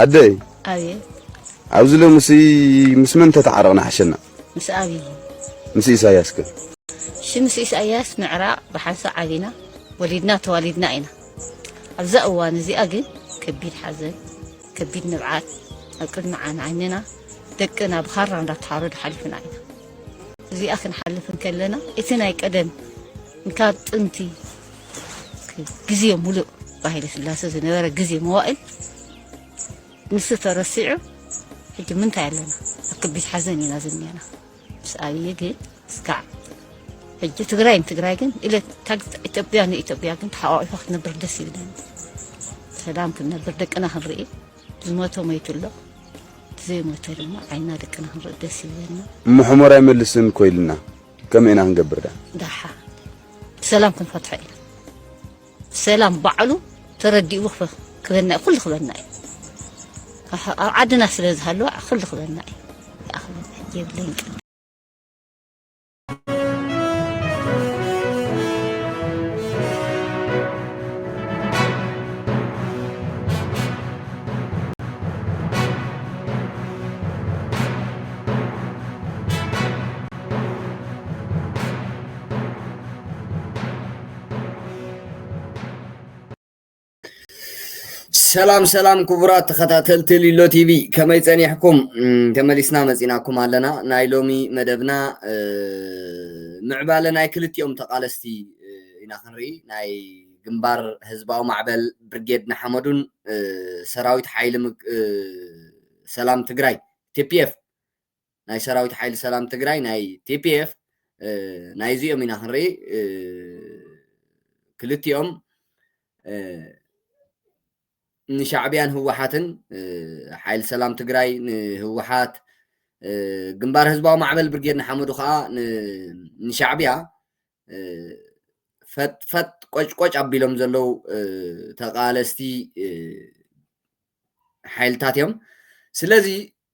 ኣደይ ኣብየ ኣብዚ ሎሚ ሲ ምስ መን ተተዓረቕና ሓሸና ምስ ኣብዪ ምስ ኢሳያስ ከ እሺ ምስ ኢሳያስ ምዕራቕ ብሓንሳ ዓቢና ወሊድና ተዋሊድና ኢና ኣብዛ እዋን እዚኣ ግን ከቢድ ሓዘን ከቢድ ንብዓት ኣብ ቅድሚ ዓን ዓይንና ደቅና ብኻራ እንዳተሓረዱ ሓሊፍና ኢና እዚኣ ክንሓልፍ እንከለና እቲ ናይ ቀደም ካብ ጥንቲ ግዜ ሙሉእ ብሃይለ ስላሰ ዝነበረ ግዜ መዋእል ንሱ ተረሲዑ ሕጂ ምንታይ ኣለና ኣብ ከቢድ ሓዘን ኢና ዝኒና ምስ ኣብዪ ግን እስካዕ ሕጂ ትግራይ ንትግራይ ግን ኢለ ኢትዮጵያ ንኢትዮጵያ ግን ተሓቋቂፋ ክትነብር ደስ ይብለኒ ሰላም ክንነብር ደቅና ክንርኢ ዝሞተ ሞይቱ ኣሎ ዘይሞተ ድማ ዓይና ደቅና ክንርኢ ደስ ይብለና እሞ ሕሞራ ኣይመልስን እኮ ኢልና ከመይ ኢና ክንገብር ደኣ ደሓ ብሰላም ክንፈትሖ ኢና ሰላም ባዕሉ ተረዲኡ ክፈ- ክበና እዩ ኩሉ ክበና እዩ ኣህ- ኣብ ዓድና ስለ ዝሃለወ ኩሉ ክበና እዩ ደኣ ክበና እዩ የብለይን ቀ ሰላም ሰላም ክቡራት ተኸታተልቲ ሊሎ ቲቪ ከመይ ፀኒሕኩም ተመሊስና መፂናኩም ኣለና ናይ ሎሚ መደብና ምዕባለ ናይ ክልቲኦም ተቃለስቲ ኢና ክንርኢ ናይ ግንባር ህዝባዊ ማዕበል ብርጌድ ንሓመዱን ሰራዊት ሓይሊ ሰላም ትግራይ ቲፒኤፍ ናይ ሰራዊት ሓይሊ ሰላም ትግራይ ናይ tpf ናይ እዚኦም ኢና ክንርኢ ክልቲኦም ንሻዕቢያን ህወሓትን ሓይሊ ሰላም ትግራይ ንህወሓት ግንባር ህዝባዊ ማዕበል ብርጌድ ንሓመዱ ከዓ ንሻዕቢያ ፈጥፈጥ ቆጭቆጭ ኣቢሎም ዘለዉ ተቃለስቲ ሓይልታት እዮም ስለዚ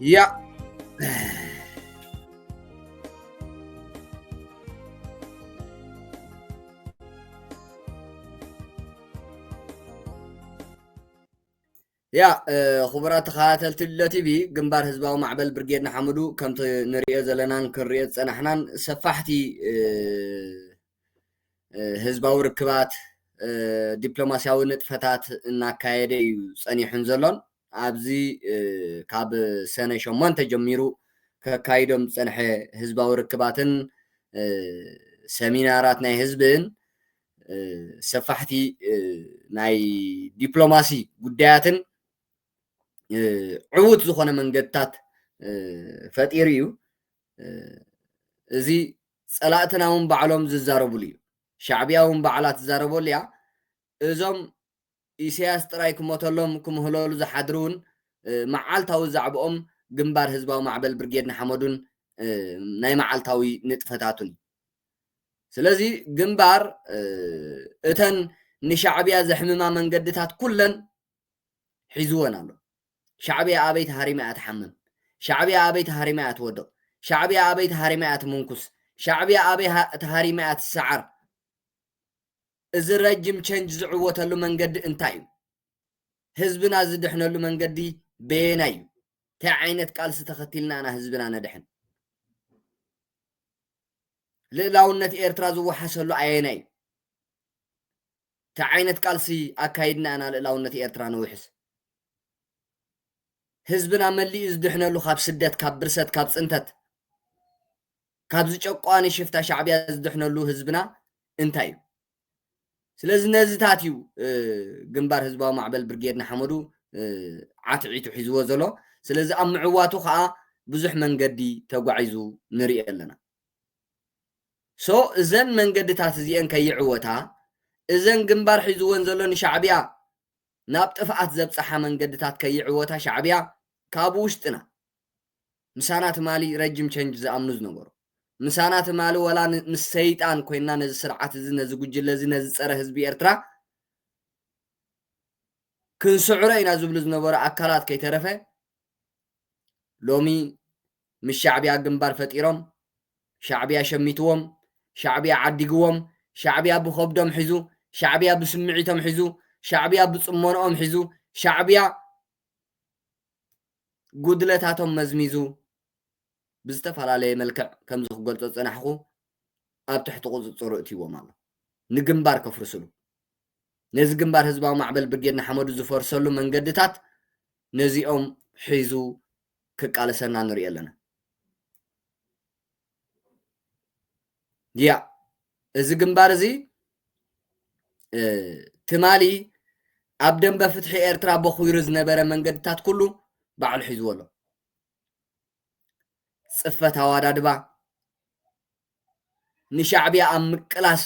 Ja. ያ ክቡራት ተኸታተልቲ ልሎ ቲቪ ግንባር ህዝባዊ ማዕበል ብርጌድ ንሓመዱ ከምቲ ንሪኦ ዘለናን ክንሪኦ ዝፀናሕናን ሰፋሕቲ ህዝባዊ ርክባት ዲፕሎማስያዊ ንጥፈታት እናካየደ እዩ ፀኒሑን ዘሎን ኣብዚ ካብ ሰነ ሸሞንተ ጀሚሩ ከካይዶም ዝጸንሐ ህዝባዊ ርክባትን ሰሚናራት ናይ ህዝብን ሰፋሕቲ ናይ ዲፕሎማሲ ጉዳያትን ዕዉት ዝኾነ መንገድታት ፈጢሩ እዩ እዚ ፀላእትና እውን ባዕሎም ዝዛረብሉ እዩ ሻዕቢያ እውን ባዕላ ትዛረበሉ እያ እዞም ኢሰያስ ጥራይ ክሞተሎም ክምህለሉ ዝሓድሩውን መዓልታዊ ዛዕብኦም ግንባር ህዝባዊ ማዕበል ብርጌድ ንሓመዱን ናይ መዓልታዊ ንጥፈታቱን እዩ። ስለዚ ግንባር እተን ንሻዕብያ ዘሕምማ መንገድታት ኩለን ሒዝወን ኣሎ። ሻዕብያ ኣበይ ተሃሪማ እያ ትሓምም? ሻዕብያ ኣበይ ተሃሪማ እያ ትወድቕ? ሻዕብያ ኣበይ ተሃሪማ እያ ትምንኩስ? ሻዕብያ ኣበይ ተሃሪማ እያ ትሰዓር? እዚ ረጅም ቸንጅ ዝዕወተሉ መንገዲ እንታይ እዩ? ህዝብና ዝድሕነሉ መንገዲ በየናይ እዩ? እንታይ ዓይነት ቃልሲ ተኸቲልና ኢና ህዝብና ነድሕን? ልእላውነት ኤርትራ ዝወሓሰሉ ኣየናይ እዩ? እንታይ ዓይነት ቃልሲ ኣካይድና ኢና ልእላውነት ኤርትራ ንውሕስ? ህዝብና መሊኡ ዝድሕነሉ ካብ ስደት፣ ካብ ብርሰት፣ ካብ ፅንተት ካብዚ ጨቋኒ ሽፍታ ሻዕብያ ዝድሕነሉ ህዝብና እንታይ እዩ? ስለዚ ነዚታት እዩ ግንባር ህዝባዊ ማዕበል ብርጌድ ንሓመዱ ዓትዒቱ ሒዝዎ ዘሎ ስለዚ ኣብ ምዕዋቱ ከዓ ብዙሕ መንገዲ ተጓዒዙ ንርኢ ኣለና ሶ እዘን መንገድታት እዚአን ከይዕወታ እዘን ግንባር ሒዝወን ዘሎ ንሻዕብያ ናብ ጥፍኣት ዘብፅሓ መንገድታት ከይዕወታ ሻዕብያ ካብ ውሽጥና ምሳና ትማሊ ረጅም ቸንጅ ዝኣምኑ ዝነበሩ ምሳና ትማሊ ወላ ምስ ሰይጣን ኮይና ነዚ ስርዓት እዚ ነዚ ጉጅለ እዚ ነዚ ፀረ ህዝቢ ኤርትራ ክንስዕሮ ኢና ዝብሉ ዝነበሩ ኣካላት ከይተረፈ ሎሚ ምስ ሻዕብያ ግንባር ፈጢሮም ሻዕብያ ሸሚትዎም ሻዕብያ ዓዲግዎም ሻዕብያ ብኸብዶም ሒዙ ሻዕብያ ብስምዒቶም ሒዙ ሻዕብያ ብፅሞንኦም ሒዙ ሻዕብያ ጉድለታቶም መዝሚዙ ብዝተፈላለየ መልክዕ ከምዚ ክገልጾ ዝጸናሕኩ ኣብ ትሕቲ ቁጽጽሩ እትይዎም ኣሎ ንግንባር ከፍርስሉ ነዚ ግንባር ህዝባዊ ማዕበል ብርጌድ ንሓመዱ ዝፈርሰሉ መንገድታት ነዚኦም ሒዙ ክቃለሰና ንሪኦ ኣለና ያ እዚ ግንባር እዚ ትማሊ ኣብ ደንበ ፍትሒ ኤርትራ በኹሩ ዝነበረ መንገድታት ኩሉ ባዕሉ ሒዝዎ ኣሎ ፅፈት ኣዋዳድባ ንሻዕብያ ኣብ ምቅላስ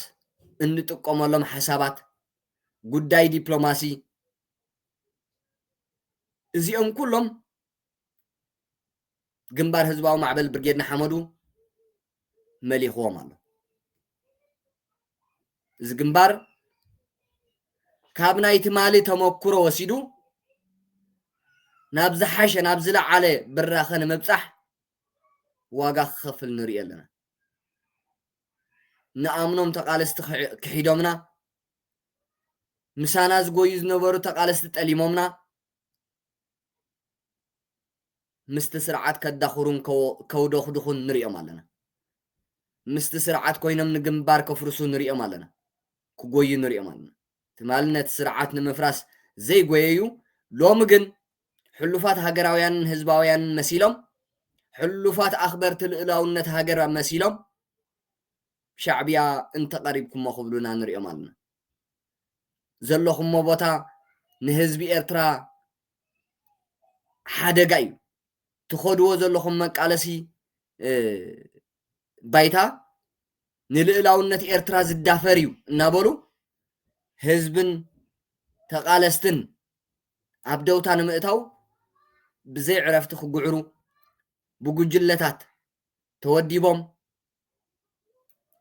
እንጥቀመሎም ሓሳባት ጉዳይ ዲፕሎማሲ እዚኦም ኩሎም ግንባር ህዝባዊ ማዕበል ብርጌድ ንሓመዱ መሊኽዎም ኣሎ እዚ ግንባር ካብ ናይ ትማሊ ተመኩሮ ወሲዱ ናብ ዝሓሸ ናብ ዝለዓለ ብራኸ ንምብፃሕ ዋጋ ክኸፍል ንርኢ ኣለና ንኣምኖም ተቃለስቲ ክሒዶምና ምሳና ዝጎዩ ዝነበሩ ተቃለስቲ ጠሊሞምና ምስቲ ስርዓት ከዳኹሩን ከውደኹድኹን ንሪኦም ኣለና። ምስቲ ስርዓት ኮይኖም ንግንባር ከፍርሱ ንሪኦም ኣለና። ክጎዩ ንሪኦም ኣለና። ትማሊ ነቲ ስርዓት ንምፍራስ ዘይጎየዩ ሎሚ ግን ሕሉፋት ሃገራውያንን ህዝባውያንን መሲሎም ሕሉፋት ኣኽበርቲ ልኡላውነት ሃገር መሲሎም ሻዕብያ እንተቐሪብኩሞ ክብሉና ንሪኦም ኣለና። ዘለኹሞ ቦታ ንህዝቢ ኤርትራ ሓደጋ እዩ ትኸድዎ ዘለኹም መቃለሲ ባይታ ንልእላውነት ኤርትራ ዝዳፈር እዩ እናበሉ ህዝብን ተቓለስትን ኣብ ደውታ ንምእታው ብዘይ ዕረፍቲ ክጉዕሩ ብጉጅለታት ተወዲቦም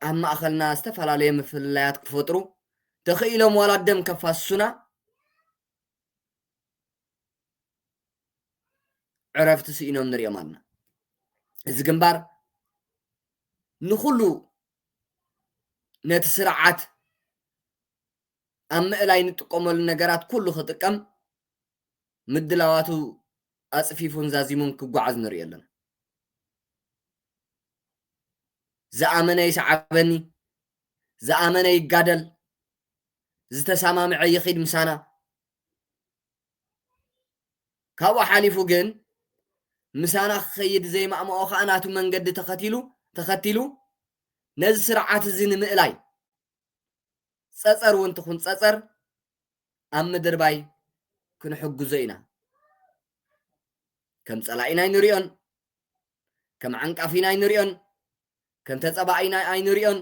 ኣብ ማእኸልና ዝተፈላለየ ምፍልላያት ክፈጥሩ ተኽኢሎም ዋላ ደም ከፋስሱና ዕረፍቲ ስኢኖም ንሪኦም ኣና እዚ ግንባር ንኹሉ ነቲ ስርዓት ኣብ ምእላይ ንጥቀመሉ ነገራት ኩሉ ክጥቀም ምድላዋቱ ኣፅፊፉን ዛዚሙን ክጓዓዝ ንሪኦ ኣለና ዝኣመነ ይስዓበኒ፣ ዝኣመነ ይጋደል፣ ዝተሰማምዐ ይኺድ ምሳና። ካብኡ ሓሊፉ ግን ምሳና ክኸይድ ዘይማእምኦ ከዓ ናቱ መንገዲ ተኸቲሉ ተኸቲሉ ነዚ ስርዓት እዚ ንምእላይ ፀፀር እውን ትኹን ፀፀር ኣብ ምድርባይ ክንሕግዞ ኢና ከም ፀላኢና ኣይንሪኦን ከም ዓንቃፍ ኢና ኣይንሪኦን ከም ተጸባኢ ኢና ኣይንሪኦን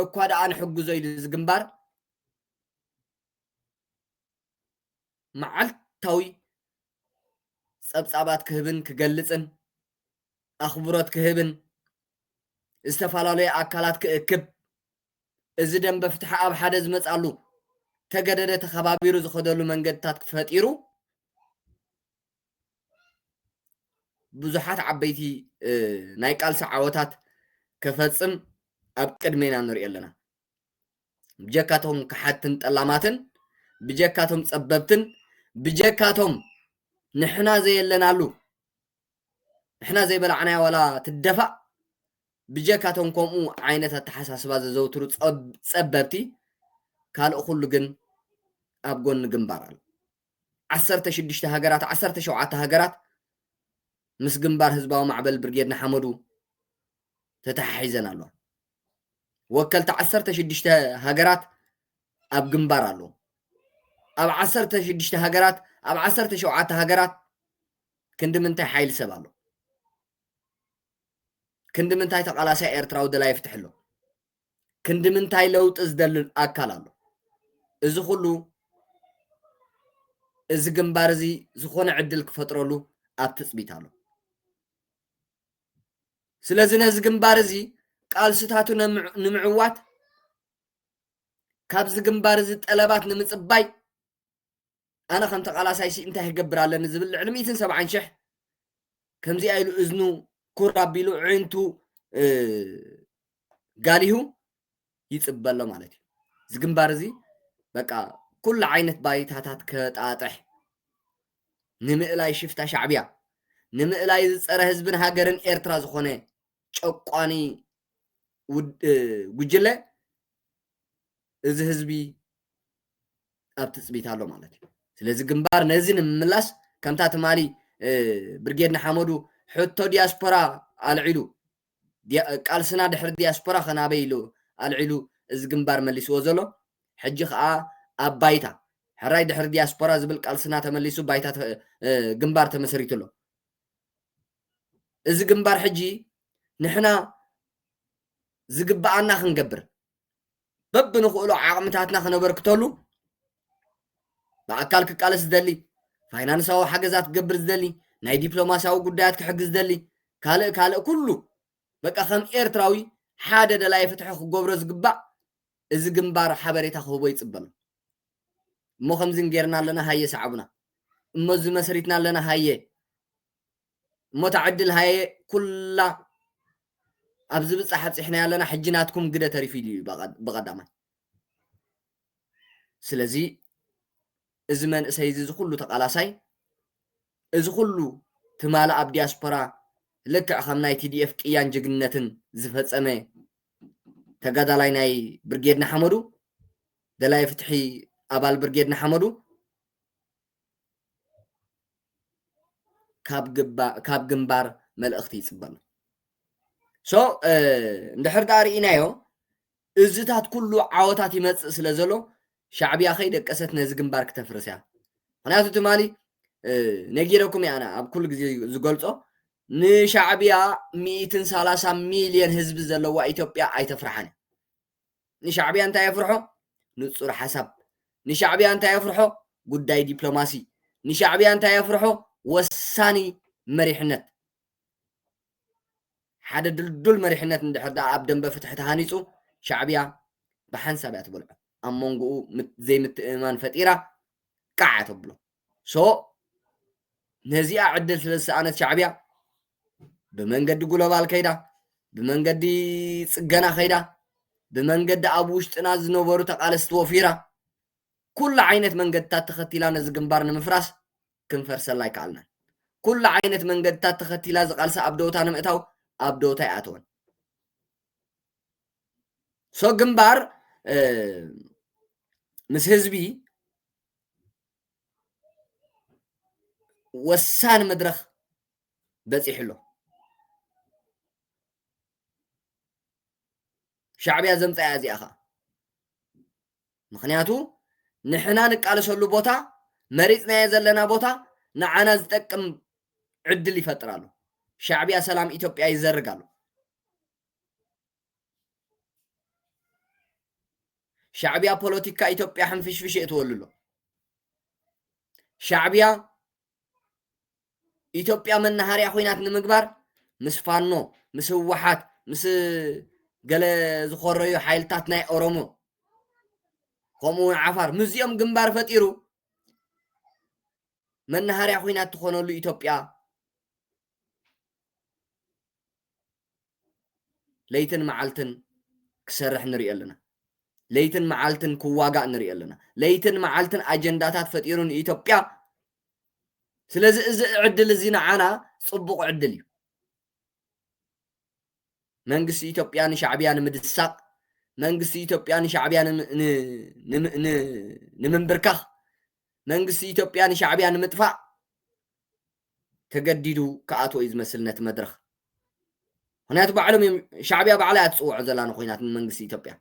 እኳ ደኣ ንሕግዞ ኢሉ እዚ ግንባር መዓልታዊ ጸብጻባት ክህብን ክገልጽን ኣኽብሮት ክህብን ዝተፈላለዩ ኣካላት ክእክብ እዚ ደንበ ፍትሒ ኣብ ሓደ ዝመጻሉ ተገደደ ተኸባቢሩ ዝኸደሉ መንገድታት ፈጢሩ ብዙሓት ዓበይቲ ናይ ቃልሲ ዓወታት ከፈጽም ኣብ ቅድሜና ንሪኦ ኣለና ብጀካቶም ክሓትን ጠላማትን ብጀካቶም ጸበብትን ብጀካቶም ንሕና ዘየለናሉ ንሕና ዘይበላዕናያ ዋላ ትደፋእ ብጀካቶም ከምኡ ዓይነት ኣተሓሳስባ ዘዘውትሩ ጸበብቲ ካልእ ኩሉ ግን ኣብ ጎኒ ግንባር ኣሎ ዓሰርተ ሽዱሽተ ሃገራት ዓሰርተ ሸውዓተ ሃገራት ምስ ግንባር ህዝባዊ ማዕበል ብርጌድ ንሓመዱ ተተሓሒዘን ኣለዋ። ወከልቲ ዓሰርተ ሽዱሽተ ሃገራት ኣብ ግንባር ኣለዉ። ኣብ ዓሰርተ ሽዱሽተ ሃገራት ኣብ ዓሰርተ ሸውዓተ ሃገራት ክንዲ ምንታይ ሓይሊ ሰብ ኣሎ? ክንዲ ምንታይ ተቓላሳይ ኤርትራዊ ደላይ ፍትሒ ኣሎ? ክንዲ ምንታይ ለውጢ ዝደሊ ኣካል ኣሎ እዚ ኩሉ እዚ ግንባር እዚ ዝኾነ ዕድል ክፈጥረሉ ኣብ ትፅቢት ኣሎ ስለዚ ነዚ ግንባር እዚ ቃልስታቱ ንምዕዋት ካብዚ ግንባር እዚ ጠለባት ንምፅባይ ኣነ ከም ተቃላሳይሲ እንታይ ክገብር ኣለኒ ዝብል ልዕሊ ሚእትን ሰብዓን ሽሕ ከምዚኣ ኢሉ እዝኑ ኩር ኣቢሉ ዕንቱ ጋሊሁ ይፅበ ኣሎ ማለት እዩ እዚ ግንባር እዚ በቃ ኩሉ ዓይነት ባይታታት ከጣጥሕ ንምእላይ ሽፍታ ሻዕብያ ንምእላይ ዝፀረ ህዝብን ሃገርን ኤርትራ ዝኾነ ጨቋኒ ጉጅለ እዚ ህዝቢ ኣብ ትፅቢት ኣሎ ማለት እዩ ስለዚ ግንባር ነዚ ንምምላስ ከምታ ትማሊ ብርጌድ ንሓመዱ ሕቶ ዲያስፖራ ኣልዒሉ ቃልስና ድሕሪ ዲያስፖራ ከናበይ ኢሉ ኣልዒሉ እዚ ግንባር መሊስዎ ዘሎ ሕጂ ከዓ ኣብ ባይታ ሕራይ ድሕሪ ዲያስፖራ ዝብል ቃልስና ተመሊሱ ባይታ ግንባር ተመሰሪቱ ኣሎ እዚ ግንባር ሕጂ ንሕና ዝግብኣና ክንገብር በብንኽእሎ ዓቕምታትና ክነበርክተሉ ብኣካል ክቃለስ ዝደሊ ፋይናንሳዊ ሓገዛት ክገብር ዝደሊ ናይ ዲፕሎማስያዊ ጉዳያት ክሕግዝ ዝደሊ ካልእ ካልእ ኩሉ በቃ ከም ኤርትራዊ ሓደ ደላይ ፍትሒ ክገብሮ ዝግባእ እዚ ግንባር ሓበሬታ ክህቦ ይፅበሎ እሞ ከምዚ ጌርና ኣለና ሃየ ሰዓቡና እሞ እዚ መስሪትና ኣለና ሃየ እሞ ታዕድል ሃየ ኩላ ኣብ ዝብጻሕ ኣብጺሕናዮ ኣለና ሕጂ ናትኩም ግደ ተሪፉ ኢሉ እዩ ብቐዳማይ ስለዚ እዚ መንእሰይ እዚ እዚ ኩሉ ተቓላሳይ እዚ ኩሉ ትማሊ ኣብ ዲያስፖራ ልክዕ ከም ናይ ቲዲኤፍ ቅያን ጅግንነትን ዝፈጸመ ተጋዳላይ ናይ ብርጌድ ንሓመዱ ደላይ ፍትሒ ኣባል ብርጌድ ንሓመዱ ካብ ግንባር መልእኽቲ ይፅበ ኣሎ ሶ እንድሕር ዳኣ ርኢናዮ እዝታት ኩሉ ዓወታት ይመፅእ ስለ ዘሎ ሻዕብያ ከይደቀሰት ነዚ ግንባር ክተፍርስ እያ ምክንያቱ ትማሊ ነጊረኩም እያ ኣነ ኣብ ኩሉ ግዜ ዝገልፆ ንሻዕብያ ሚእትን ሰላሳ ሚልዮን ህዝቢ ዘለዋ ኢትዮጵያ ኣይተፍርሓን ንሻዕብያ እንታይ የፍርሖ ንጹር ሓሳብ ንሻዕብያ እንታይ የፍርሖ ጉዳይ ዲፕሎማሲ ንሻዕብያ እንታይ የፍርሖ ወሳኒ መሪሕነት ሓደ ድልዱል መሪሕነት እንድሕር ደኣ ኣብ ደንበ ፍትሒ ተሃኒፁ ሻዕብያ ብሓንሳብ እያ ትበልዖ ኣብ መንጎኡ ዘይምትእምማን ፈጢራ ቃዕ ተብሎ ሶ ነዚኣ ዕድል ስለ ዝሰኣነት ሻዕብያ ብመንገዲ ጉሎባል ከይዳ ብመንገዲ ጽገና ከይዳ ብመንገዲ ኣብ ውሽጥና ዝነበሩ ተቓለስቲ ወፊራ ኩሉ ዓይነት መንገድታት ተኸቲላ ነዚ ግንባር ንምፍራስ ክንፈርሰላ ኣይከኣልናን ኩሉ ዓይነት መንገድታት ተኸቲላ ዝቓልሳ ኣብ ደውታ ንምእታው ኣብ ደውታ ይኣተወን ሶ ግንባር ምስ ህዝቢ ወሳኒ መድረኽ በፂሑ ኣሎ። ሻዕቢያ ዘምፅኣ እያ እዚኣ ከዓ ምክንያቱ ንሕና ንቃለሰሉ ቦታ መሪፅናዮ ዘለና ቦታ ንዓና ዝጠቅም ዕድል ይፈጥር ኣሎ። ሻዕቢያ ሰላም ኢትዮጵያ ይዘርግ ኣሎ። ሻዕቢያ ፖለቲካ ኢትዮጵያ ሕንፍሽፍሽ የእትወሉ ኣሎ ሻዕቢያ ኢትዮጵያ መናሃርያ ኮይናት ንምግባር ምስ ፋኖ ምስ ህወሓት ምስ ገለ ዝኾረዩ ሓይልታት ናይ ኦሮሞ ከምኡ እውን ዓፋር ምስዚኦም ግንባር ፈጢሩ መናሃርያ ኮይናት ትኾነሉ ኢትዮጵያ ለይትን መዓልትን ክሰርሕ ንሪኦ ኣለና። ለይትን መዓልትን ክዋጋእ ንሪኦ ኣለና። ለይትን መዓልትን ኣጀንዳታት ፈጢሩ ንኢትዮጵያ ስለዚ እዚ ዕድል እዚ ንዓና ጽቡቕ ዕድል እዩ። መንግስቲ ኢትዮጵያ ንሻዕብያ ንምድሳቕ መንግስቲ ኢትዮጵያ ንሻዕብያ ንምንብርካኽ መንግስቲ ኢትዮጵያ ንሻዕብያ ንምጥፋእ ተገዲዱ ክኣትዎ እዩ ዝመስል ነቲ መድረኽ። ምኽንያቱ ባዕሎም እዮም ሻዕብያ ባዕላ እያ ትጽውዖ ዘላ ንኹናት ንመንግስቲ ኢትዮጵያ።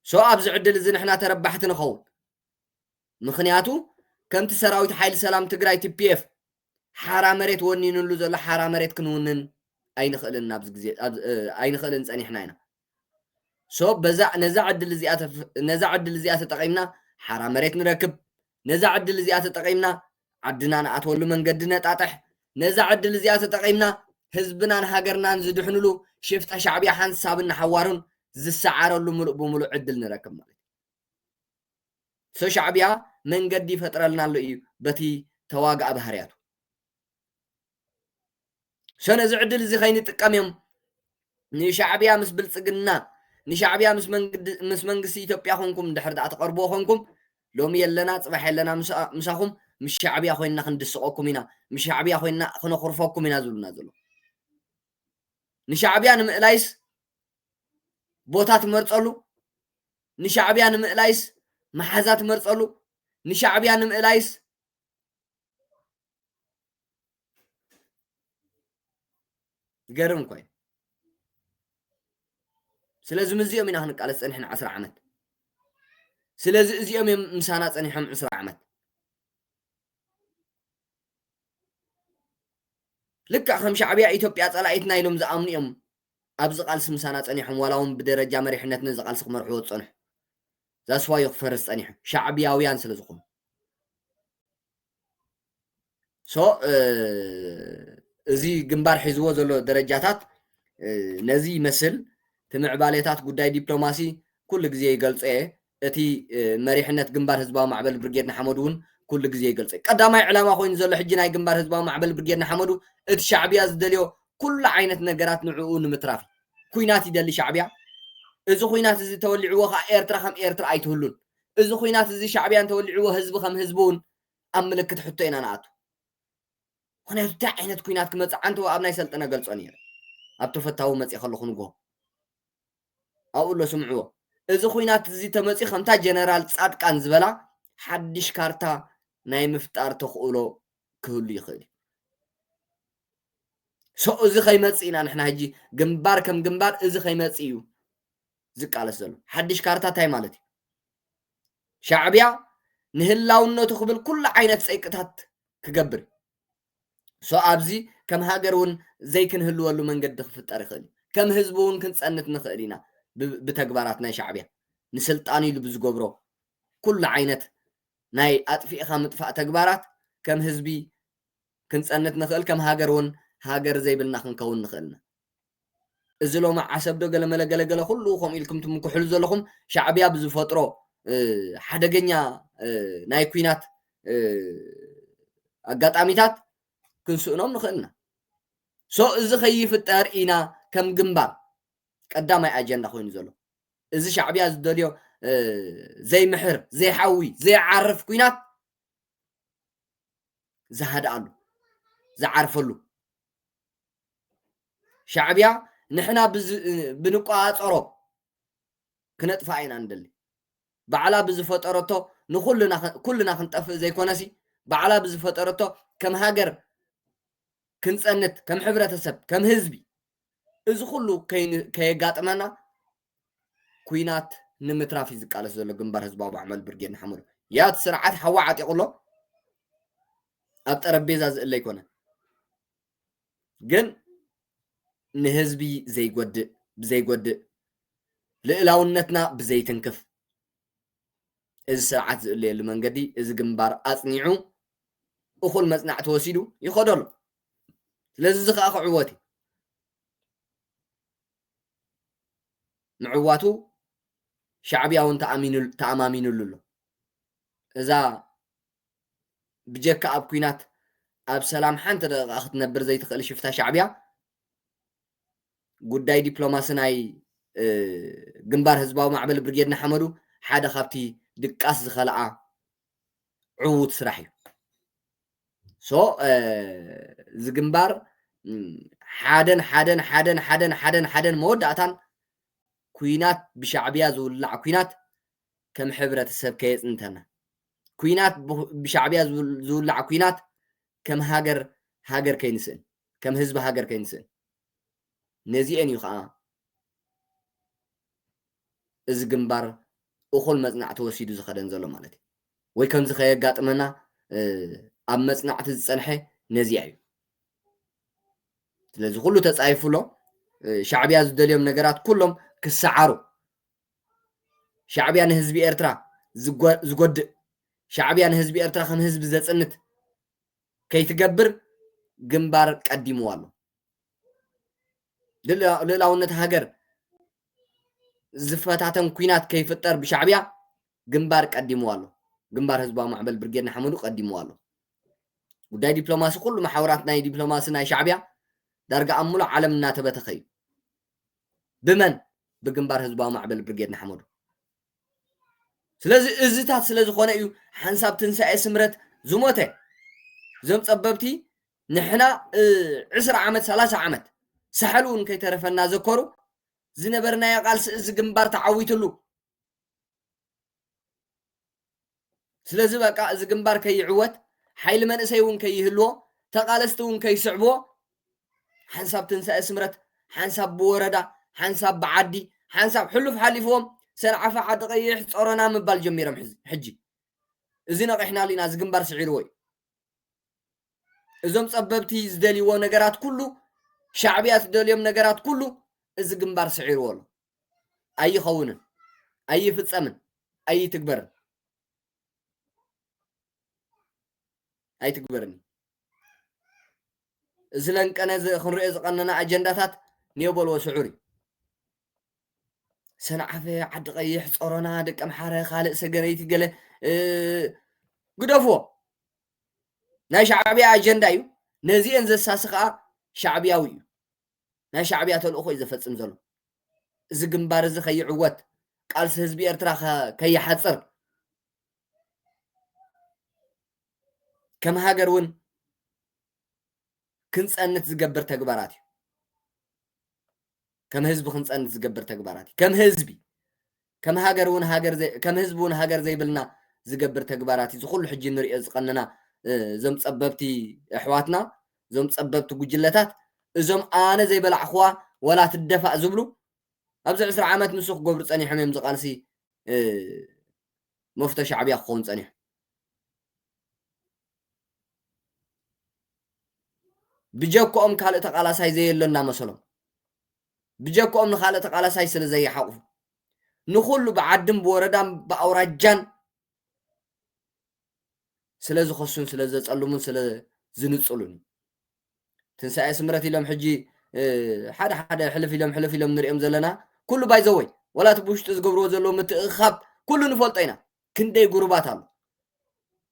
ሶ ኣብዚ ዕድል እዚ ንሕና ተረባሕቲ ንኸውን። ምኽንያቱ ከምቲ ሰራዊት ሓይሊ ሰላም ትግራይ ቲፒኤፍ ሓራ መሬት ወኒንሉ ዘሎ ሓራ መሬት ክንውንን ኣይንኽእልን ኣብዚ ግዜ ኣይንኽእልን ጸኒሕና ኢና። ሶ በዛ ነዛ ዕድል እዚኣ ነዛ ዕድል እዚኣ ተጠቒምና ሓራ መሬት ንረክብ፣ ነዛ ዕድል እዚኣ ተጠቒምና ዓድና ንኣትወሉ መንገዲ ነጣጥሕ፣ ነዛ ዕድል እዚኣ ተጠቒምና ህዝብናን ሃገርናን ዝድሕንሉ ሽፍታ ሻዕብያ ሓንሳብን ንሓዋሩን ዝሰዓረሉ ምሉእ ብምሉእ ዕድል ንረክብ ማለት እዩ። ሶ ሻዕብያ መንገዲ ይፈጥረልና ኣሎ እዩ በቲ ተዋጋኢ ባህርያቱ። ሸነ እዚ ዕድል እዚ ከይንጥቀም እዮም ንሻዕብያ ምስ ብልፅግና ንሻዕብያ ምስ መንግስቲ ኢትዮጵያ ኮንኩም ድሕር ድኣ ተቐርብዎ ኮንኩም ሎሚ የለና ፅባሕ የለና ምሳኹም ምስ ሻዕብያ ኮይንና ክንድስቐኩም ኢና ምስ ሻዕብያ ኮይንና ክነኹርፈኩም ኢና ዝብሉና ዘሎ ንሻዕብያ ንምእላይስ ቦታ ትመርፀሉ ንሻዕብያ ንምእላይስ መሓዛ ትመርፀሉ ንሻዕብያ ንምእላይስ ዝገርም እኮ እዩ ስለዚ ምዚኦም ኢና ክንቃለስ ፀኒሕና ዓስራ ዓመት ስለዚ እዚኦም እዮም ምሳና ፀኒሖም ዕስራ ዓመት ልክዕ ከም ሻዕብያ ኢትዮጵያ ፀላኢትና ኢሎም ዝኣምኑ እዮም ኣብዚ ቃልሲ ምሳና ፀኒሖም ዋላ እውን ብደረጃ መሪሕነት ነዚ ቃልሲ ክመርሕዎ ዝፀንሑ ዛስዋዮ ክፈርስ ፀኒሑ ሻዕብያውያን ስለ ዝኾኑ ሶ እዚ ግንባር ሒዝዎ ዘሎ ደረጃታት ነዚ ይመስል ትምዕባሌታት ጉዳይ ዲፕሎማሲ ኩሉ ግዜ ይገልጾ እየ እቲ መሪሕነት ግንባር ህዝባዊ ማዕበል ብርጌድ ንሓመዱ እውን ኩሉ ግዜ ይገልጾ እዩ ቀዳማይ ዕላማ ኮይኑ ዘሎ ሕጂ ናይ ግንባር ህዝባዊ ማዕበል ብርጌድ ንሓመዱ እቲ ሻዕብያ ዝደልዮ ኩሉ ዓይነት ነገራት ንዕኡ ንምትራፍ ኩናት ይደሊ ሻዕብያ እዚ ኩናት እዚ ተወሊዕዎ ከዓ ኤርትራ ከም ኤርትራ ኣይትህሉን እዚ ኹናት እዚ ሻዕብያ እንተወሊዕዎ ህዝቢ ከም ህዝቢ ውን ኣብ ምልክት ሕቶ ኢና ንኣቱ ምኽንያቱ እንታይ ዓይነት ኩናት ክመጽእ ዓንተቦ ኣብ ናይ ሰልጠነ ገልጾ ነይረ ኣብ ተፈታዊ መጽየ ከለኹ ንግሆ ኣብኡ ኣሎ ስምዕዎ እዚ ኹናት እዚ ተመጽዩ ከምታ ጀነራል ጻድቃን ዝበላ ሓድሽ ካርታ ናይ ምፍጣር ተኽእሎ ክህሉ ይኽእል እዩ ሰው እዚ ከይመጽእ ኢና ንሕና ሕጂ ግንባር ከም ግንባር እዚ ከይመጽእ እዩ ዝቃለስ ዘሎ ሓድሽ ካርታ እንታይ ማለት እዩ ሻዕብያ ንህላውነቱ ክብል ኩሉ ዓይነት ፀይቅታት ክገብር ሶ ኣብዚ ከም ሃገር እውን ዘይክንህልወሉ መንገዲ ክፍጠር ይኽእል እዩ ከም ህዝቢ እውን ክንፀንት ንኽእል ኢና ብተግባራት ናይ ሻዕብያ ንስልጣን ኢሉ ብዝገብሮ ኩሉ ዓይነት ናይ ኣጥፊእኻ ምጥፋእ ተግባራት ከም ህዝቢ ክንፀንት ንኽእል ከም ሃገር እውን ሃገር ዘይብልና ክንከውን ንኽእልና እዚ ሎሚ ዓሰብ ዶ ገለመለ ገለገለ ኩሉ ከምኡ ኢልኩም ትምክሕሉ ዘለኹም ሻዕብያ ብዝፈጥሮ ሓደገኛ ናይ ኩናት ኣጋጣሚታት ክንስእኖም ንኽእል ኢና ሶ እዚ ከይፍጠር ኢና ከም ግንባር ቀዳማይ ኣጀንዳ ኮይኑ ዘሎ እዚ ሻዕብያ ዝደልዮ ዘይምሕር ዘይሓዊ ዘይዓርፍ ኩናት ዝሃድኣሉ ዝዓርፈሉ ሻዕብያ ንሕና ብንቆፃፀሮ ክነጥፍኣ ኢና ንደሊ ባዕላ ብዝፈጠረቶ ንኩልና ኩልና ክንጠፍእ ዘይኮነሲ ባዕላ ብዝፈጠረቶ ከም ሃገር ክንፀንት ከም ሕብረተሰብ ከም ህዝቢ እዚ ኩሉ ከየጋጥመና ኩናት ንምትራፍ እዩ ዝቃለስ ዘሎ ግንባር ህዝባዊ ማዕመል ብርጌድ ንሓመዱ ያት ስርዓት ሓዋ ዓጢቑ ኣሎ ኣብ ጠረጴዛ ዝእለ ኣይኮነን ግን ንህዝቢ ዘይጎድእ ብዘይጎድእ ልእላውነትና ብዘይትንክፍ እዚ ስርዓት ዝእለየሉ መንገዲ እዚ ግንባር ኣፅኒዑ እኹል መፅናዕቲ ወሲዱ ይኸዶ ኣሎ ስለዚ እዚ ከዓ ክዕወት እዩ ምዕዋቱ ሻዕብያ እውን ተኣማሚኑሉ ኣሎ እዛ ብጀካ ኣብ ኩናት ኣብ ሰላም ሓንቲ ደቂቃ ክትነብር ዘይትክእል ሽፍታ ሻዕብያ ጉዳይ ዲፕሎማሲ ናይ ግንባር ህዝባዊ ማዕበል ብርጌድ ንሓመዱ ሓደ ካብቲ ድቃስ ዝኸልኣ ዕዉት ስራሕ እዩ ሶ እዚ ግንባር ሓደን ሓደን ሓደን ሓደን ሓደን ሓደን መወዳእታን ኩናት ብሻዕብያ ዝውላዕ ኩናት ከም ሕብረተሰብ ከየጽንተና ኩናት ብሻዕብያ ዝውላዕ ኩናት ከም ሃገር ሃገር ከይንስእን ከም ህዝቢ ሃገር ከይንስእን ነዚኤን እዩ ከዓ እዚ ግንባር እኹል መጽናዕ ተወሲዱ ዝኸደን ዘሎ ማለት እዩ ወይ ከምዚ ከየጋጥመና ኣብ መጽናዕቲ ዝጸንሐ ነዚኣ እዩ ስለዚ ኩሉ ተጻይፉ ኣሎ ሻዕብያ ዝደልዮም ነገራት ኩሎም ክሰዓሩ ሻዕብያ ንህዝቢ ኤርትራ ዝጎድእ ሻዕብያ ንህዝቢ ኤርትራ ከም ህዝቢ ዘጽንት ከይትገብር ግንባር ቀዲምዋ ኣሎ ልእላውነት ሃገር ዝፈታተን ኩናት ከይፍጠር ብሻዕብያ ግንባር ቀዲምዋ ኣሎ ግንባር ህዝባዊ ማዕበል ብርጌድ ንሓመዱ ቀዲምዋ ኣሎ ጉዳይ ዲፕሎማሲ ኩሉ መሓውራት ናይ ዲፕሎማሲ ናይ ሻዕብያ ዳርጋ ኣብ ሙሉእ ዓለም እናተበተኸ እዩ ብመን ብግንባር ህዝባዊ ማዕበል ብርጌድ ንሓመዱ ስለዚ እዝታት ስለ ዝኾነ እዩ ሓንሳብ ትንሳኤ ስምረት ዝሞተ እዞም ጸበብቲ ንሕና ዕስራ ዓመት ሰላሳ ዓመት ሳሕል እውን ከይተረፈና ዘኮሩ ዝነበርናዮ ቃልሲ እዚ ግንባር ተዓዊትሉ ስለዚ በቃ እዚ ግንባር ከይዕወት ሓይሊ መንእሰይ እውን ከይህልዎ ተቓለስቲ እውን ከይስዕብዎ ሓንሳብ ትንሳኤ ስምረት ሓንሳብ ብወረዳ ሓንሳብ ብዓዲ ሓንሳብ ሕሉፍ ሓሊፍዎም ሰንዓፈ ዓዲ ቀይሕ ጾሮና ምባል ጀሚሮም ሕጂ እዚ ነቒሕናሉ ኢና እዚ ግንባር ስዒርዎ እዩ እዞም ጸበብቲ ዝደልይዎ ነገራት ኩሉ ሻዕብያ ዝደልዮም ነገራት ኩሉ እዚ ግንባር ስዒርዎ ኣሎ ኣይኸውንን፣ ኣይፍጸምን፣ ኣይትግበርን ኣይትግበርን እዩ። እዚ ለንቀነ እዚ ክንሪኦ ዝቐነና ኣጀንዳታት ኒዮ በልዎ ስዑር እዩ። ሰንዓፈ፣ ዓዲ ቀይሕ፣ ጾሮና፣ ደቂ ኣምሓረ፣ ካልእ ሰገነይቲ ገለ ግደፍዎ። ናይ ሻዕብያ ኣጀንዳ እዩ። ነዚአን ዘሳሲ ከዓ ሻዕብያዊ እዩ። ናይ ሻዕብያ ተልእኾ እዩ ዘፈጽም ዘሎ። እዚ ግንባር እዚ ከይዕወት፣ ቃልሲ ህዝቢ ኤርትራ ከይሓጽር፣ ከም ሃገር እውን ክንጸንት ዝገብር ተግባራት እዩ። ከም ህዝቢ ክንጸንት ዝገብር ተግባራት እዩ። ከም ህዝቢ ከም ሃገር እውን ሃገር ዘይ ከም ህዝቢ እውን ሃገር ዘይብልና ዝገብር ተግባራት እዩ እዚ ኩሉ ሕጂ ንሪኦ ዝቀነና እዞም ጸበብቲ ኣሕዋትና እዞም ጸበብቲ ጉጅለታት እዞም ኣነ ዘይበላዕኹዋ ወላ ትደፋእ ዝብሉ ኣብዚ ዕስራ ዓመት ንሱ ክገብሩ ጸኒሖም እዮም ዝቃልሲ መፍቶ ሻዕብያ ክኸውን ጸኒሑ ብጀክኦም ካልእ ተቃላሳይ ዘየሎ እናመሰሎም ብጀክኦም ንካልእ ተቃላሳይ ስለ ዘይሓቁፉ ንኩሉ ብዓድን ብወረዳን ብኣውራጃን ስለ ዝኸሱን ስለ ዘጸልሙን ስለ ዝንጽሉን እዩ ትንሳኤ ስምረት ኢሎም ሕጂ ሓደ ሓደ ሕልፍ ኢሎም ሕልፍ ኢሎም ንሪኦም ዘለና ኩሉ ባይዘወይ ወላ እቲ ብውሽጢ ዝገብርዎ ዘለዉ ምትእኻብ ኩሉ ንፈልጦ ኢና ክንደይ ጉሩባት ኣሎ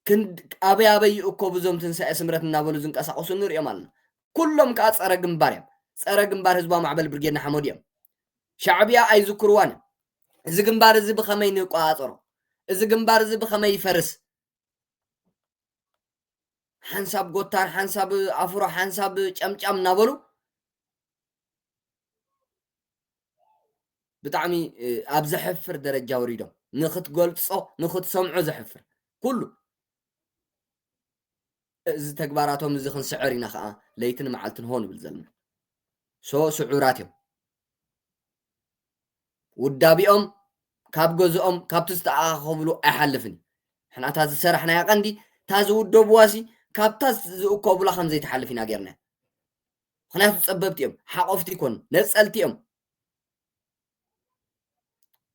ክንድ ኣበይ ኣበይ ይእከቡ እዞም ትንሳኤ ስምረት እናበሉ ዝንቀሳቀሱ ንርእዮም ኣለና ኩሎም ከኣ ጸረ ግንባር እዮም ጸረ ግንባር ህዝባዊ ማዕበል ብርጌድ ንሓመዱ እዮም ሻዕብያ ኣይዝክርዋን እዮም እዚ ግንባር እዚ ብኸመይ ንቆጻጸሮ እዚ ግንባር እዚ ብኸመይ ይፈርስ ሓንሳብ ጎታር ሓንሳብ ኣፍሮ ሓንሳብ ጨምጫም እናበሉ ብጣዕሚ ኣብ ዘሕፍር ደረጃ ወሪዶም ንክትገልጾ ንክትሰምዖ ዘሕፍር ኩሉ እዚ ተግባራቶም እዚ ክንስዕር ኢና ከዓ ለይትን መዓልትን ሆን ይብል ዘለና ሶ ስዑራት እዮም ውዳቢኦም ካብ ገዝኦም ካብቲ ዝተኣኻኸብሉ ኣይሓልፍን ሕና እታ ዝሰራሕናያ ቀንዲ እታ ዝውደብዋ ሲ ካብታ ዝእከቡላ ከም ዘይትሓልፍ ኢና ጌርና ምክንያቱ ጸበብቲ እዮም ሓቆፍቲ ይኮኑ ነጸልቲ እዮም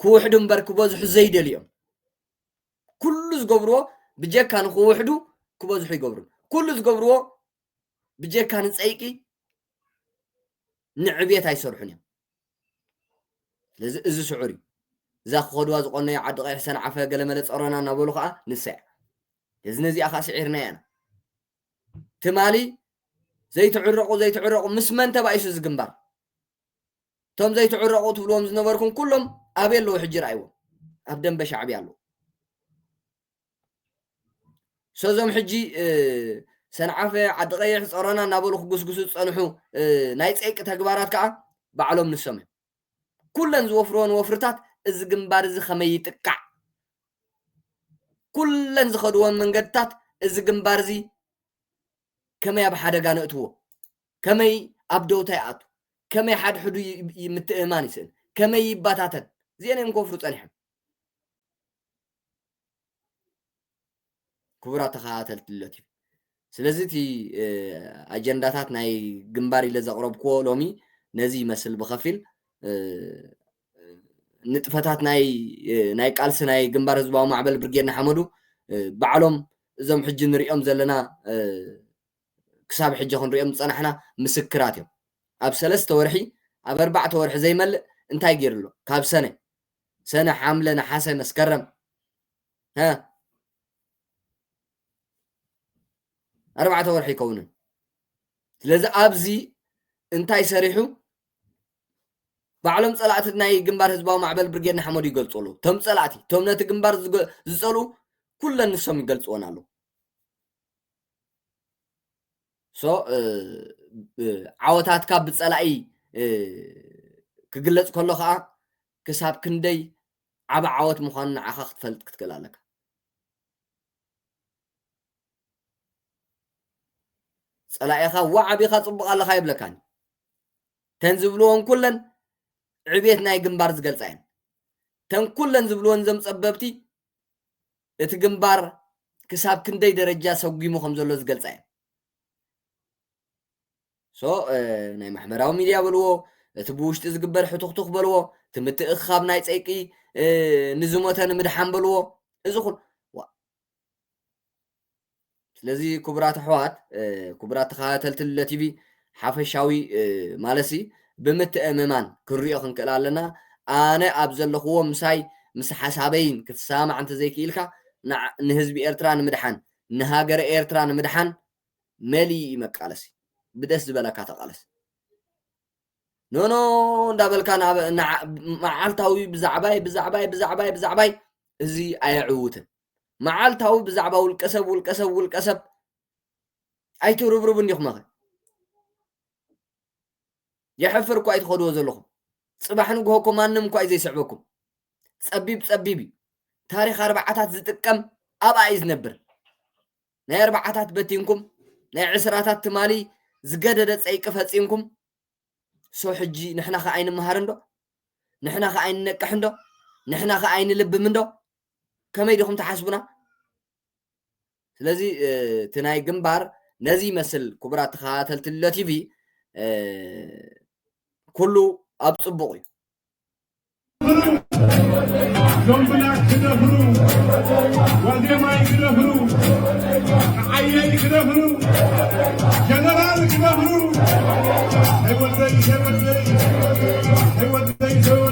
ክውሕዱ እምበር ክበዝሑ ዘይደልዩ እዮም ኩሉ ዝገብርዎ ብጀካ ንክውሕዱ ክበዝሑ ይገብሩ ኩሉ ዝገብርዎ ብጀካ ንፀይቂ ንዕብየት ኣይሰርሑን እዮም ስለዚ እዚ ስዑር እዩ እዛ ክኸድዋ ዝቆነዮ ዓዲ ቀይሕ ሰንዓፈ ገለመለ ፀሮና እናበሉ ከዓ ንሳ እያ እዚ ነዚኣ ከዓ ስዒርና ኢና ትማሊ ዘይትዕረቑ ዘይትዕረቑ ምስ መን ተባኢሱ እዚ ግንባር እቶም ዘይትዕረቑ ትብልዎም ዝነበርኩም ኩሎም ኣበይ ኣለዉ ሕጂ ረኣይዎም ኣብ ደንበ ሻዕብያ ኣለዉ ሰዞም ሕጂ ሰንዓፈ ዓዲ ቀይሕ ፀሮና እናበሉ ክጉስጉሱ ዝፀንሑ ናይ ፀይቂ ተግባራት ከዓ ባዕሎም ንሶም እዮም ኩለን ዝወፍርወን ወፍርታት እዚ ግንባር እዚ ከመይ ይጥቃዕ ኩለን ዝኸድዎን መንገድታት እዚ ግንባር እዚ ከመይ ኣብ ሓደጋ ነእትዎ ከመይ ኣብ ደውታ ይኣቱ ከመይ ሓድሕዱ ምትእማን ይስእን ከመይ ይባታተን እዚአን እዮም ከወፍሩ ፀኒሖም ክቡራት ተኸታተልቲ ለት እዩ ስለዚ እቲ ኣጀንዳታት ናይ ግንባር ኢለ ዘቕረብክዎ ሎሚ ነዚ ይመስል ብኸፊል ንጥፈታት ናይ ቃልሲ ናይ ግንባር ህዝባዊ ማዕበል ብርጌድ ንሓመዱ ባዕሎም እዞም ሕጂ ንሪኦም ዘለና ክሳብ ሕጂ ክንሪኦም ዝፀናሕና ምስክራት እዮም ኣብ ሰለስተ ወርሒ ኣብ ኣርባዕተ ወርሒ ዘይመልእ እንታይ ገይሩ ኣሎ ካብ ሰነ ሰነ ሓምለ ነሓሰ መስከረም ሀ ኣርባዕተ ወርሒ ኣይከውንን ስለዚ ኣብዚ እንታይ ሰሪሑ ባዕሎም ፀላእቲ ናይ ግንባር ህዝባዊ ማዕበል ብርጌድ ንሓመዱ ይገልፁ ኣለዉ እቶም ፀላእቲ እቶም ነቲ ግንባር ዝፀልኡ ኩለን ንሶም ይገልፅዎን ኣለዉ so ዓወታትካ ብጸላኢ ክግለጽ ከሎ ከኣ ክሳብ ክንደይ ዓቢ ዓወት ምዃኑ ንዓኻ ክትፈልጥ ክትክእል ኣለካ ጸላኢኻ ዋዕ ኣቢኻ ጽቡቕ ኣለኻ ይብለካን ተን ዝብልዎን ኩለን ዕብየት ናይ ግንባር ዝገልጻ እየን ተን ኩለን ዝብልዎን እዞም ጸበብቲ እቲ ግንባር ክሳብ ክንደይ ደረጃ ሰጒሙ ከም ዘሎ ዝገልጻ እየን ሶ ናይ ማሕበራዊ ሚድያ በልዎ እቲ ብውሽጢ ዝግበር ሕቱኽቱኽ በልዎ እቲ ምትእኽኻብ ናይ ፀይቂ ንዝሞተ ንምድሓን በልዎ እዚ ኩሉ ስለዚ ክቡራት ኣሕዋት ክቡራት ተኸታተልቲ ልለ ቲቪ ሓፈሻዊ ማለሲ ብምትእምማን ክንሪኦ ክንክእል ኣለና ኣነ ኣብ ዘለኹዎ ምሳይ ምስ ሓሳበይን ክትሰማማዕ እንተዘይክኢልካ ንህዝቢ ኤርትራ ንምድሓን ንሃገረ ኤርትራ ንምድሓን መሊኡ እዩ መቃለሲ ብደስ ዝበለካ ተቃለስ ኖኖ እንዳበልካ መዓልታዊ ብዛዕባይ ብዛዕባይ ብዛዕባይ ብዛዕባይ እዚ ኣየዕውትን መዓልታዊ ብዛዕባ ውልቀሰብ ውልቀሰብ ውልቀሰብ ኣይትርብርቡን ዲኹም ኸ የሕፍር እኳ እዩ ትኸድዎ ዘለኹም ፅባሕ ንግሆ እኮ ማንም እኳ እዩ ዘይስዕበኩም ፀቢብ ፀቢብ እዩ ታሪክ ኣርባዓታት ዝጥቀም ኣብኣ እዩ ዝነብር ናይ ኣርባዓታት በቲንኩም ናይ ዕስራታት ትማሊ ዝገደደ ፀይቂ ፈፂምኩም ሶ ሕጂ ንሕና ከ ኣይንመሃርን ዶ ንሕና ከ ኣይንነቅሕን ዶ ንሕና ከ ኣይንልብምን ዶ ከመይ ዲኹም ትሓስቡና ስለዚ እቲ ናይ ግንባር ነዚ ይመስል ክቡራት ተኸታተልቲ ሎ ቲቪ ኩሉ ኣብ ፅቡቕ እዩ ሎምብላክ ክደፍሩ ወዴማይ ክደፍሩ ንዓየይ ክደፍሩ ጀነራል ክደፍሩ ህይወተይ ህይወተይ ህይወተይ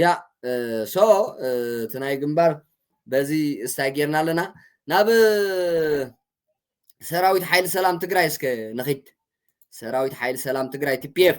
ያ ሶ እቲ ናይ ግንባር በዚ እስታይ ጌርና ኣለና ናብ ሰራዊት ሓይሊ ሰላም ትግራይ እስከ ንኺድ ሰራዊት ሓይሊ ሰላም ትግራይ ቲፒኤፍ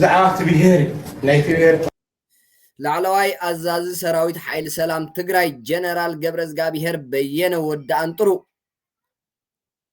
ዛዕባ ብሄር ናይ ብሄር ላዕለዋይ ኣዛዚ ሰራዊት ሓይሊ ሰላም ትግራይ ጀነራል ገብረዝጋብሄር በየነ ወዲ ኣንጥሩ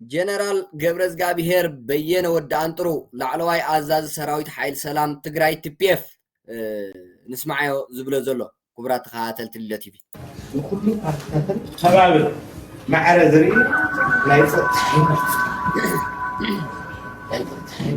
ጀነራል ገብረዝጋብሄር በየነ ወዲ ኣንጥሩ ላዕለዋይ ኣዛዚ ሰራዊት ሓይል ሰላም ትግራይ ትፒኤፍ ንስማዓዮ ዝብሎ ዘሎ ክቡራት ተኸታተልቲ ልደ ቲቪ ንኩሉ ፓርቲታትን ከባብን ማዕረ ዝርኢ ናይ ፀጥታ ሓይሊ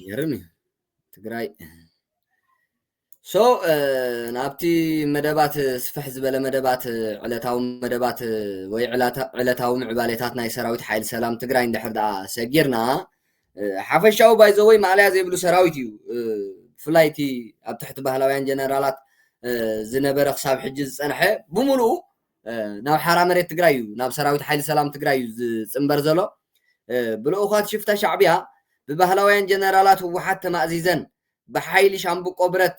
ይገርም እዩ ትግራይ ሶ ናብቲ መደባት ስፍሕ ዝበለ መደባት ዕለታዊ መደባት ወይ ዕለታዊ ምዕባሌታት ናይ ሰራዊት ሓይሊ ሰላም ትግራይ እንድሕር ደኣ ሰጊርና ሓፈሻዊ ባይዘወይ ማእለያ ዘይብሉ ሰራዊት እዩ ብፍላይ እቲ ኣብ ትሕቲ ባህላውያን ጀነራላት ዝነበረ ክሳብ ሕጂ ዝፀንሐ ብምሉኡ ናብ ሓራ መሬት ትግራይ እዩ ናብ ሰራዊት ሓይሊ ሰላም ትግራይ እዩ ዝፅምበር ዘሎ ብልኡኻት ሽፍታ ሻዕቢያ ብባህላውያን ጀነራላት ህወሓት ተማእዚዘን ብሓይሊ ሻምብቆ ብረት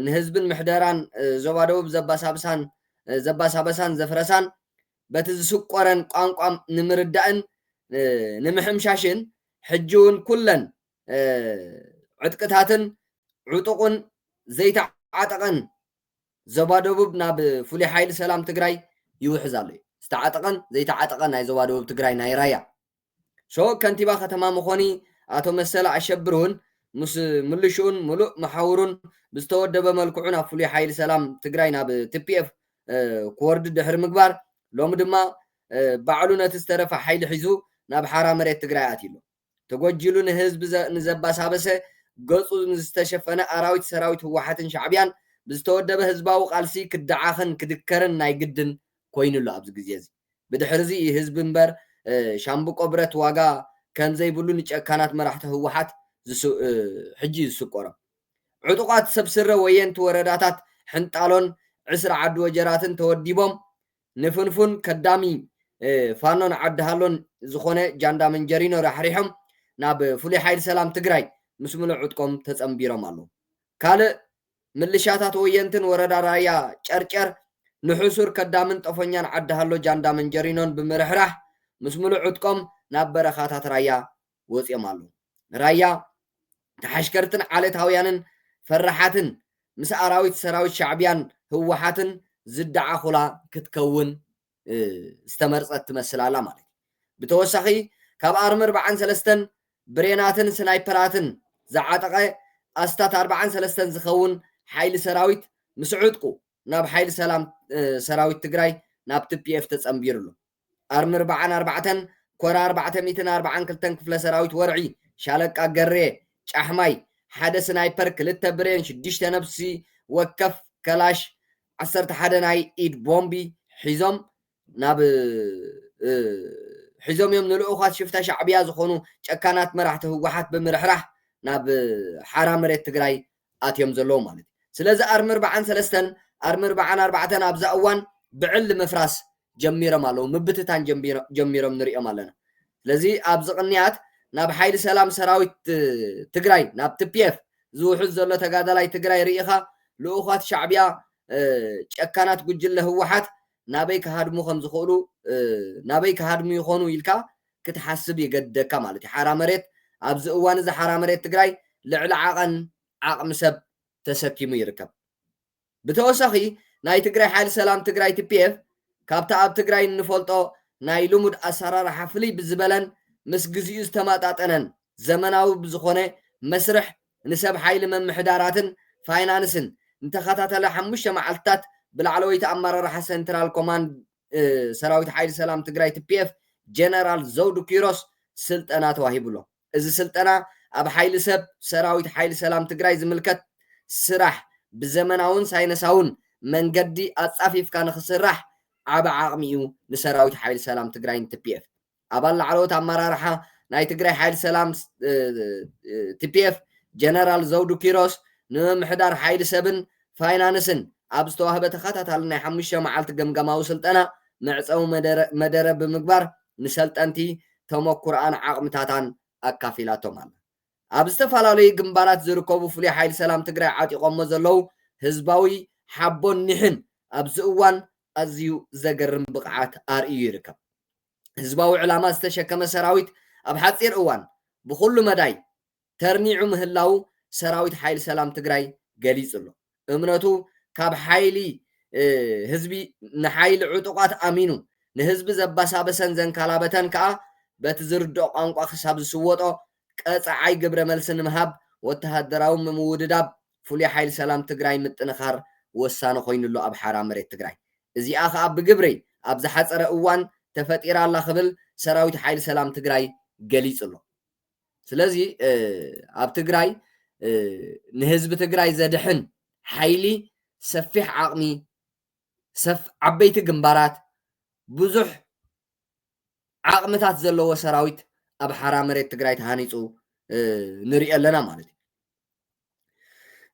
ንህዝብን ምሕደራን ዞባ ደቡብ ዘባሳብሳን ዘባሳበሳን ዘፍረሳን በቲ ዝስቆረን ቋንቋም ንምርዳእን ንምሕምሻሽን ሕጂ እውን ኩለን ዕጥቅታትን ዕጡቕን ዘይተዓጠቐን ዞባ ደቡብ ናብ ፍሉይ ሓይሊ ሰላም ትግራይ ይውሕዝ ኣሎ እዩ። ዝተዓጠቐን ዘይተዓጠቐን ናይ ዞባ ደቡብ ትግራይ ናይ ራያ ሾ ከንቲባ ከተማ መኾኒ ኣቶ መሰለ ኣሸብር እውን ምስ ምልሽኡን ምሉእ መሓውሩን ብዝተወደበ መልክዑ ናብ ፍሉይ ሓይሊ ሰላም ትግራይ ናብ ቲፒኤፍ ክወርዱ ድሕሪ ምግባር ሎሚ ድማ ባዕሉ ነቲ ዝተረፈ ሓይሊ ሒዙ ናብ ሓራ መሬት ትግራይ ኣትዩ ኣሎ። ተጎጂሉ ንህዝቢ ንዘባሳበሰ ገጹ ንዝተሸፈነ ኣራዊት ሰራዊት ህወሓትን ሻዕቢያን ብዝተወደበ ህዝባዊ ቃልሲ ክደዓኽን ክድከርን ናይ ግድን ኮይኑ ኣሎ ኣብዚ ግዜ እዚ ብድሕሪ እዚ ህዝቢ እምበር ሻምብቆ ብረት ዋጋ ከምዘይብሉ ንጨካናት መራሕቲ ህወሓት ሕጂ ዝስቆሮም ዕጡቓት ሰብ ስረ ወየንቲ ወረዳታት ሕንጣሎን ዕስራ ዓዲ ወጀራትን ተወዲቦም ንፍንፉን ከዳሚ ፋኖን ዓዲ ሃሎን ዝኾነ ጃንዳ መንጀሪኖ ራሕሪሖም ናብ ፍሉይ ሓይሊ ሰላም ትግራይ ምስ ምሉእ ዕጥቆም ተጸንቢሮም ኣለው። ካልእ ምልሻታት ወየንትን ወረዳ ራያ ጨርጨር ንሕሱር ከዳምን ጠፎኛን ዓዲ ሃሎ ጃንዳ መንጀሪኖን ብምርሕራሕ ምስ ምሉእ ዕጥቆም ናብ በረኻታት ራያ ወጽዮም ኣለዉ። ንራያ ተሓሽከርትን ዓለታውያንን ፈራሓትን ምስ ኣራዊት ሰራዊት ሻዕብያን ህወሓትን ዝደዓኹላ ክትከውን ዝተመርጸት ትመስል ኣላ ማለት እዩ። ብተወሳኺ ካብ ኣርሚ ኣርብዓን ሰለስተን ብሬናትን ስናይፐራትን ዝዓጠቐ ኣስታት ኣርብዓን ሰለስተን ዝኸውን ሓይሊ ሰራዊት ምስ ዕጥቁ ናብ ሓይሊ ሰላም ሰራዊት ትግራይ ናብ ቲፒኤፍ ተጸንቢሩ ኣሎ። ኣርምርብዓን ኣርባዕተን ኮር ኣርባዕተ ሚእትን ኣርብዓን ክልተን ክፍለ ሰራዊት ወርዒ ሻለቃ ገሬ ጫሕማይ ሓደ ስናይፐር ክልተ ብሬን ሽዱሽተ ነብሲ ወከፍ ከላሽ ዓሰርተ ሓደ ናይ ኢድ ቦምቢ ሒዞም ናብ ሒዞም እዮም ንልኡኻት ሽፍታ ሻዕብያ ዝኾኑ ጨካናት መራሕቲ ህወሓት ብምርሕራሕ ናብ ሓራ መሬት ትግራይ ኣትዮም ዘለዉ ማለት እዩ። ስለዚ ኣርምርብዓን ሰለስተን፣ ኣርምርብዓን ኣርባዕተን ኣብዛ እዋን ብዕሊ ምፍራስ ጀሚሮም ኣለዉ፣ ምብትታን ጀሚሮም ንርእዮም ኣለና። ስለዚ ኣብዚ ቅንያት ናብ ሓይሊ ሰላም ሰራዊት ትግራይ ናብ tpf ዝውሕዝ ዘሎ ተጋዳላይ ትግራይ ርኢኻ ልኡኻት ሻዕቢያ ጨካናት ጉጅለ ህወሓት ናበይ ክሃድሙ ከምዝኽእሉ ናበይ ክሃድሙ ይኾኑ ኢልካ ክትሓስብ ይገድደካ ማለት እዩ። ሓራ መሬት ኣብዚ እዋን እዚ ሓራ መሬት ትግራይ ልዕሊ ዓቐን ዓቕሚ ሰብ ተሰኪሙ ይርከብ። ብተወሳኺ ናይ ትግራይ ሓይሊ ሰላም ትግራይ TPF ካብቲ ኣብ ትግራይ እንፈልጦ ናይ ልሙድ ኣሰራርሓ ፍልይ ብዝበለን ምስ ግዚኡ ዝተመጣጠነን ዘመናዊ ብዝኾነ መስርሕ ንሰብ ሓይሊ ምምሕዳራትን ፋይናንስን ንተኸታታሊ ሓሙሽተ መዓልትታት ብላዕለወይቲ ኣመራርሓ ሰንትራል ኮማንድ ሰራዊት ሓይሊ ሰላም ትግራይ ትፒኤፍ ጀነራል ዘውዱ ኪሮስ ስልጠና ተዋሂቡሎ። እዚ ስልጠና ኣብ ሓይሊ ሰብ ሰራዊት ሓይሊ ሰላም ትግራይ ዝምልከት ስራሕ ብዘመናውን ሳይነሳውን መንገዲ ኣፃፊፍካ ንክስራሕ ዓቢ ዓቕሚ እዩ ንሰራዊት ሓይሊ ሰላም ትግራይን ትፒኤፍ። ኣባል ላዕለዎት ኣመራርሓ ናይ ትግራይ ሓይሊ ሰላም፣ TPF፣ ጀነራል ዘውዱ ኪሮስ፣ ንምምሕዳር ሓይሊ ሰብን ፋይናንስን ኣብ ዝተዋህበ ተኸታታሊ ናይ ሓሙሽተ መዓልቲ ገምጋማዊ ስልጠና መዕጸዊ መደረ ብምግባር ንሰልጠንቲ ተመኩሮኣን ዓቕምታታን ኣካፊላቶም ኣላ። ኣብ ዝተፈላለዩ ግንባራት ዝርከቡ ፍሉይ ሓይሊ ሰላም ትግራይ ዓጢቖሞ ዘለዉ ህዝባዊ ሓቦን ኒሕን ኣብዚ እዋን ኣዝዩ ዘገርም ብቕዓት ኣርእዩ ይርከብ። ህዝባዊ ዕላማ ዝተሸከመ ሰራዊት ኣብ ሓፂር እዋን ብኹሉ መዳይ ተርኒዑ ምህላዉ ሰራዊት ሓይሊ ሰላም ትግራይ ገሊፁ ኣሎ። እምነቱ ካብ ሓይሊ ህዝቢ ንሓይሊ ዕጡቓት ኣሚኑ ንህዝቢ ዘባሳበሰን ዘንካላበተን ከኣ በቲ ዝርድኦ ቋንቋ ክሳብ ዝስወጦ ቀፃዓይ ግብረ መልሲ ንምሃብ ወተሃደራዊ ምምውድዳብ ፍሉይ ሓይሊ ሰላም ትግራይ ምጥንኻር ወሳኒ ኮይኑሎ ኣብ ሓራ መሬት ትግራይ እዚኣ ከኣ ብግብሪ ኣብ ዝሓጸረ እዋን ተፈጢራ ኣላ ክብል ሰራዊት ሓይሊ ሰላም ትግራይ ገሊጹ ኣሎ። ስለዚ ኣብ ትግራይ ንህዝቢ ትግራይ ዘድሕን ሓይሊ ሰፊሕ ዓቕሚ፣ ሰፍ ዓበይቲ ግንባራት፣ ብዙሕ ዓቕምታት ዘለዎ ሰራዊት ኣብ ሓራ መሬት ትግራይ ተሃኒጹ ንርእዮ ኣለና ማለት እዩ።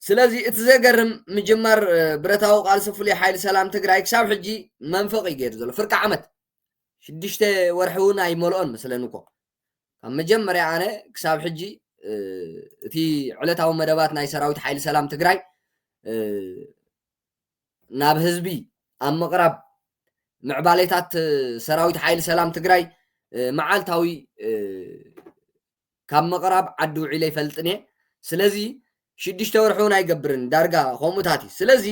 ስለዚ እቲ ዘገርም ምጅማር ብረታዊ ቃልሲ ፍሉይ ሓይሊ ሰላም ትግራይ ክሳብ ሕጂ መንፈቕ እዩ ገይሩ ዘሎ ፍርቂ ዓመት ሽዱሽተ ወርሒ እውን ኣይመልኦን መስለኒ እኮ ካብ መጀመርያ ኣነ ክሳብ ሕጂ እቲ ዕለታዊ መደባት ናይ ሰራዊት ሓይሊ ሰላም ትግራይ ናብ ህዝቢ ኣብ ምቕራብ ምዕባሌታት ሰራዊት ሓይሊ ሰላም ትግራይ መዓልታዊ ካብ ምቕራብ ዓዲ ውዒለ ይፈልጥን'የ ስለዚ ሽዱሽተ ወርሒ እውን ኣይገብርን ዳርጋ ከምኡታት እዩ ስለዚ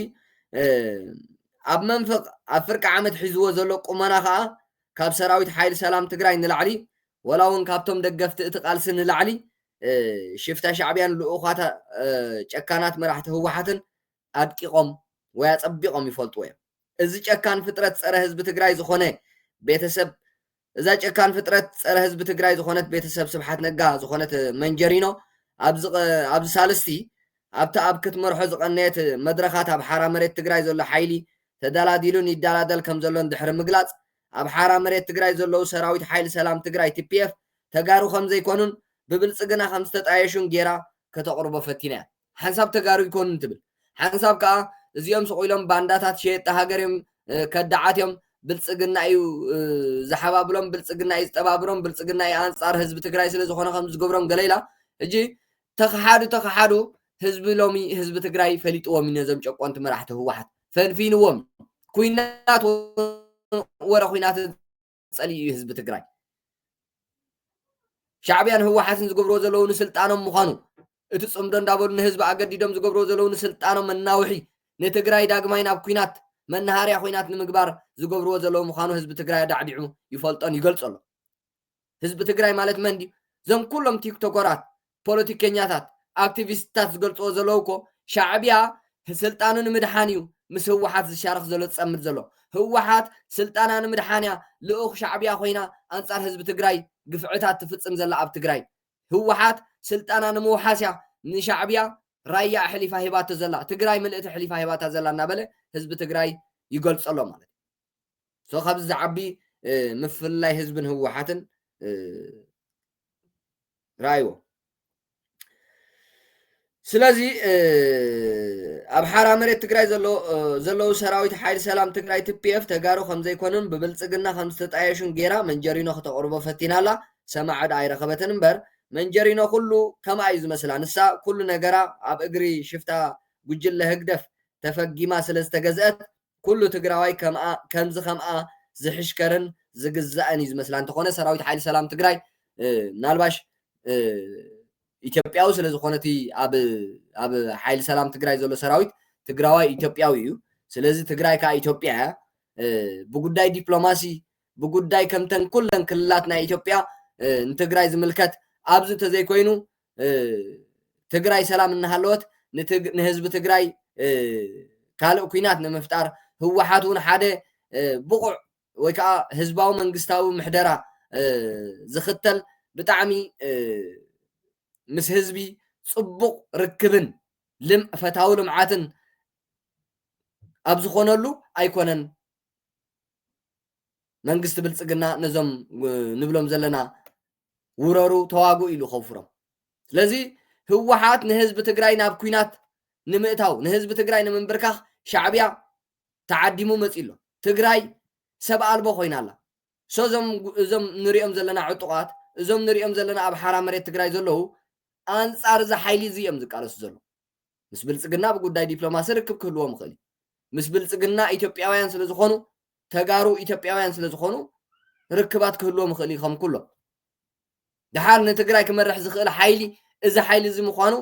ኣብ መንፍቕ ኣብ ፍርቂ ዓመት ሒዝዎ ዘሎ ቁመና ከዓ ካብ ሰራዊት ሓይሊ ሰላም ትግራይ ንላዕሊ ወላ እውን ካብቶም ደገፍቲ እቲ ቃልሲ ንላዕሊ ሽፍታ ሻዕብያን ልኡኻት ጨካናት መራሕቲ ህወሓትን ኣድቂቖም ወይ ኣጸቢቖም ይፈልጥዎ እዮም እዚ ጨካን ፍጥረት ጸረ ህዝቢ ትግራይ ዝኾነ ቤተሰብ እዛ ጨካን ፍጥረት ፀረ ህዝቢ ትግራይ ዝኾነት ቤተሰብ ስብሓት ነጋ ዝኾነት መንጀሪኖ ኣብዚ ሳልስቲ ኣብቲ ኣብ ክትመርሖ ዝቐነየት መድረኻት ኣብ ሓራ መሬት ትግራይ ዘሎ ሓይሊ ተደላዲሉን ይደላደል ከምዘሎን ድሕሪ ምግላፅ ኣብ ሓራ መሬት ትግራይ ዘለዉ ሰራዊት ሓይሊ ሰላም ትግራይ ቲፒኤፍ ተጋሩ ከምዘይኮኑን ብብልፅግና ከምዝተጣየሹን ጌራ ከተቕርቦ ፈቲና እያ። ሓንሳብ ተጋሩ ይኮኑን ትብል ሓንሳብ ከዓ እዚኦም ስቕ ኢሎም ባንዳታት ሸየጥቲ ሃገር እዮም ከዳዓት እዮም ብልፅግና እዩ ዝሓባብሎም ብልፅግና እዩ ዝጠባብሮም ብልፅግና እዩ ኣንፃር ህዝቢ ትግራይ ስለ ዝኾነ ከም ዝገብሮም ገለ ኢላ ሕጂ ተኸሓዱ ተኸሓዱ ህዝቢ ሎሚ ህዝቢ ትግራይ ፈሊጥዎም እዩ ነዞም ጨቆንቲ መራሕቲ ህወሓት ፈንፊንዎም ኩናት ወረ ኩናት ጸሊኢ እዩ ህዝቢ ትግራይ ሻዕብያን ህወሓትን ዝገብርዎ ዘለዉ ንስልጣኖም ምዃኑ እቲ ፅምዶ እንዳበሉ ንህዝቢ ኣገዲዶም ዝገብርዎ ዘለዉ ንስልጣኖም መናውሒ ንትግራይ ዳግማይ ናብ ኩናት መናሃርያ ኩናት ንምግባር ዝገብርዎ ዘለዉ ምዃኑ ህዝቢ ትግራይ ኣዳዕዲዑ ይፈልጦን ይገልፆ ኣሎ ህዝቢ ትግራይ ማለት መን ድዩ እዞም ኩሎም ቲክቶከራት ፖለቲከኛታት ኣክቲቪስትታት ዝገልጽዎ ዘለዉ እኮ ሻዕብያ ስልጣኑ ንምድሓን እዩ ምስ ህወሓት ዝሻረኽ ዘሎ ዝጸምድ ዘሎ ህወሓት ስልጣና ንምድሓን እያ ልኡኽ ሻዕብያ ኮይና ኣንጻር ህዝቢ ትግራይ ግፍዕታት ትፍጽም ዘላ ኣብ ትግራይ ህወሓት ስልጣና ንምውሓስ እያ ንሻዕብያ ራያ ኣሕሊፋ ሂባቶ ዘላ ትግራይ ምልእቲ ኣሕሊፋ ሂባታ ዘላ እናበለ ህዝቢ ትግራይ ይገልጾ ኣሎ ማለት so ካብዚ ዝዓቢ ምፍልላይ ህዝብን ህወሓትን ረኣይዎ ስለዚ ኣብ ሓራ መሬት ትግራይ ዘለዉ ሰራዊት ሓይሊ ሰላም ትግራይ ትፒኤፍ ተጋሩ ከምዘይኮኑን ብብልፅግና ከም ዝተጣየሹን ጌራ መንጀሪኖ ክተቕርቦ ፈቲና ኣላ ሰማዕ ዕዳ ኣይረኸበትን እምበር መንጀሪኖ ኩሉ ከምኣ እዩ ዝመስላ ንሳ ኩሉ ነገራ ኣብ እግሪ ሽፍታ ጉጅለ ህግደፍ ተፈጊማ ስለ ዝተገዝአት ኩሉ ትግራዋይ ከምኣ ከምዚ ከምኣ ዝሕሽከርን ዝግዛእን እዩ ዝመስላ እንተኾነ ሰራዊት ሓይሊ ሰላም ትግራይ ምናልባሽ ኢትዮጵያዊ ስለ ዝኾነ እቲ ኣብ ኣብ ሓይሊ ሰላም ትግራይ ዘሎ ሰራዊት ትግራዋይ ኢትዮጵያዊ እዩ ስለዚ ትግራይ ከዓ ኢትዮጵያ እያ ብጉዳይ ዲፕሎማሲ ብጉዳይ ከምተን ኩለን ክልላት ናይ ኢትዮጵያ ንትግራይ ዝምልከት ኣብዚ ተዘይኮይኑ ትግራይ ሰላም እናሃለወት ንህዝቢ ትግራይ ካልእ ኩናት ንምፍጣር ህወሓት እውን ሓደ ብቑዕ ወይ ከዓ ህዝባዊ መንግስታዊ ምሕደራ ዝኽተል ብጣዕሚ ምስ ህዝቢ ፅቡቕ ርክብን ፈታዊ ልምዓትን ኣብ ዝኾነሉ ኣይኮነን መንግስቲ ብልፅግና ነዞም ንብሎም ዘለና ውረሩ ተዋግኡ ኢሉ ከውፍሮም ስለዚ ህወሓት ንህዝቢ ትግራይ ናብ ኩናት ንምእታው ንህዝቢ ትግራይ ንምንብርካኽ ሻዕብያ ተዓዲሙ መፂ ኣሎ ትግራይ ሰብ ኣልቦ ኮይና ኣላ ሶ እዞም እዞም ንሪኦም ዘለና ዕጡቓት እዞም ንሪኦም ዘለና ኣብ ሓራ መሬት ትግራይ ዘለዉ ኣንፃር እዚ ሓይሊ እዚ እዮም ዝቃለሱ ዘለዉ ምስ ብልፅግና ብጉዳይ ዲፕሎማሲ ርክብ ክህልዎም ይኽእል እዩ። ምስ ብልፅግና ኢትዮጵያውያን ስለዝኾኑ ተጋሩ ኢትዮጵያውያን ስለዝኾኑ ርክባት ክህልዎም ይኽእል እዩ ከም ኩሎም። ድሓር ንትግራይ ክመርሕ ዝኽእል ሓይሊ እዚ ሓይሊ እዚ ምዃኑ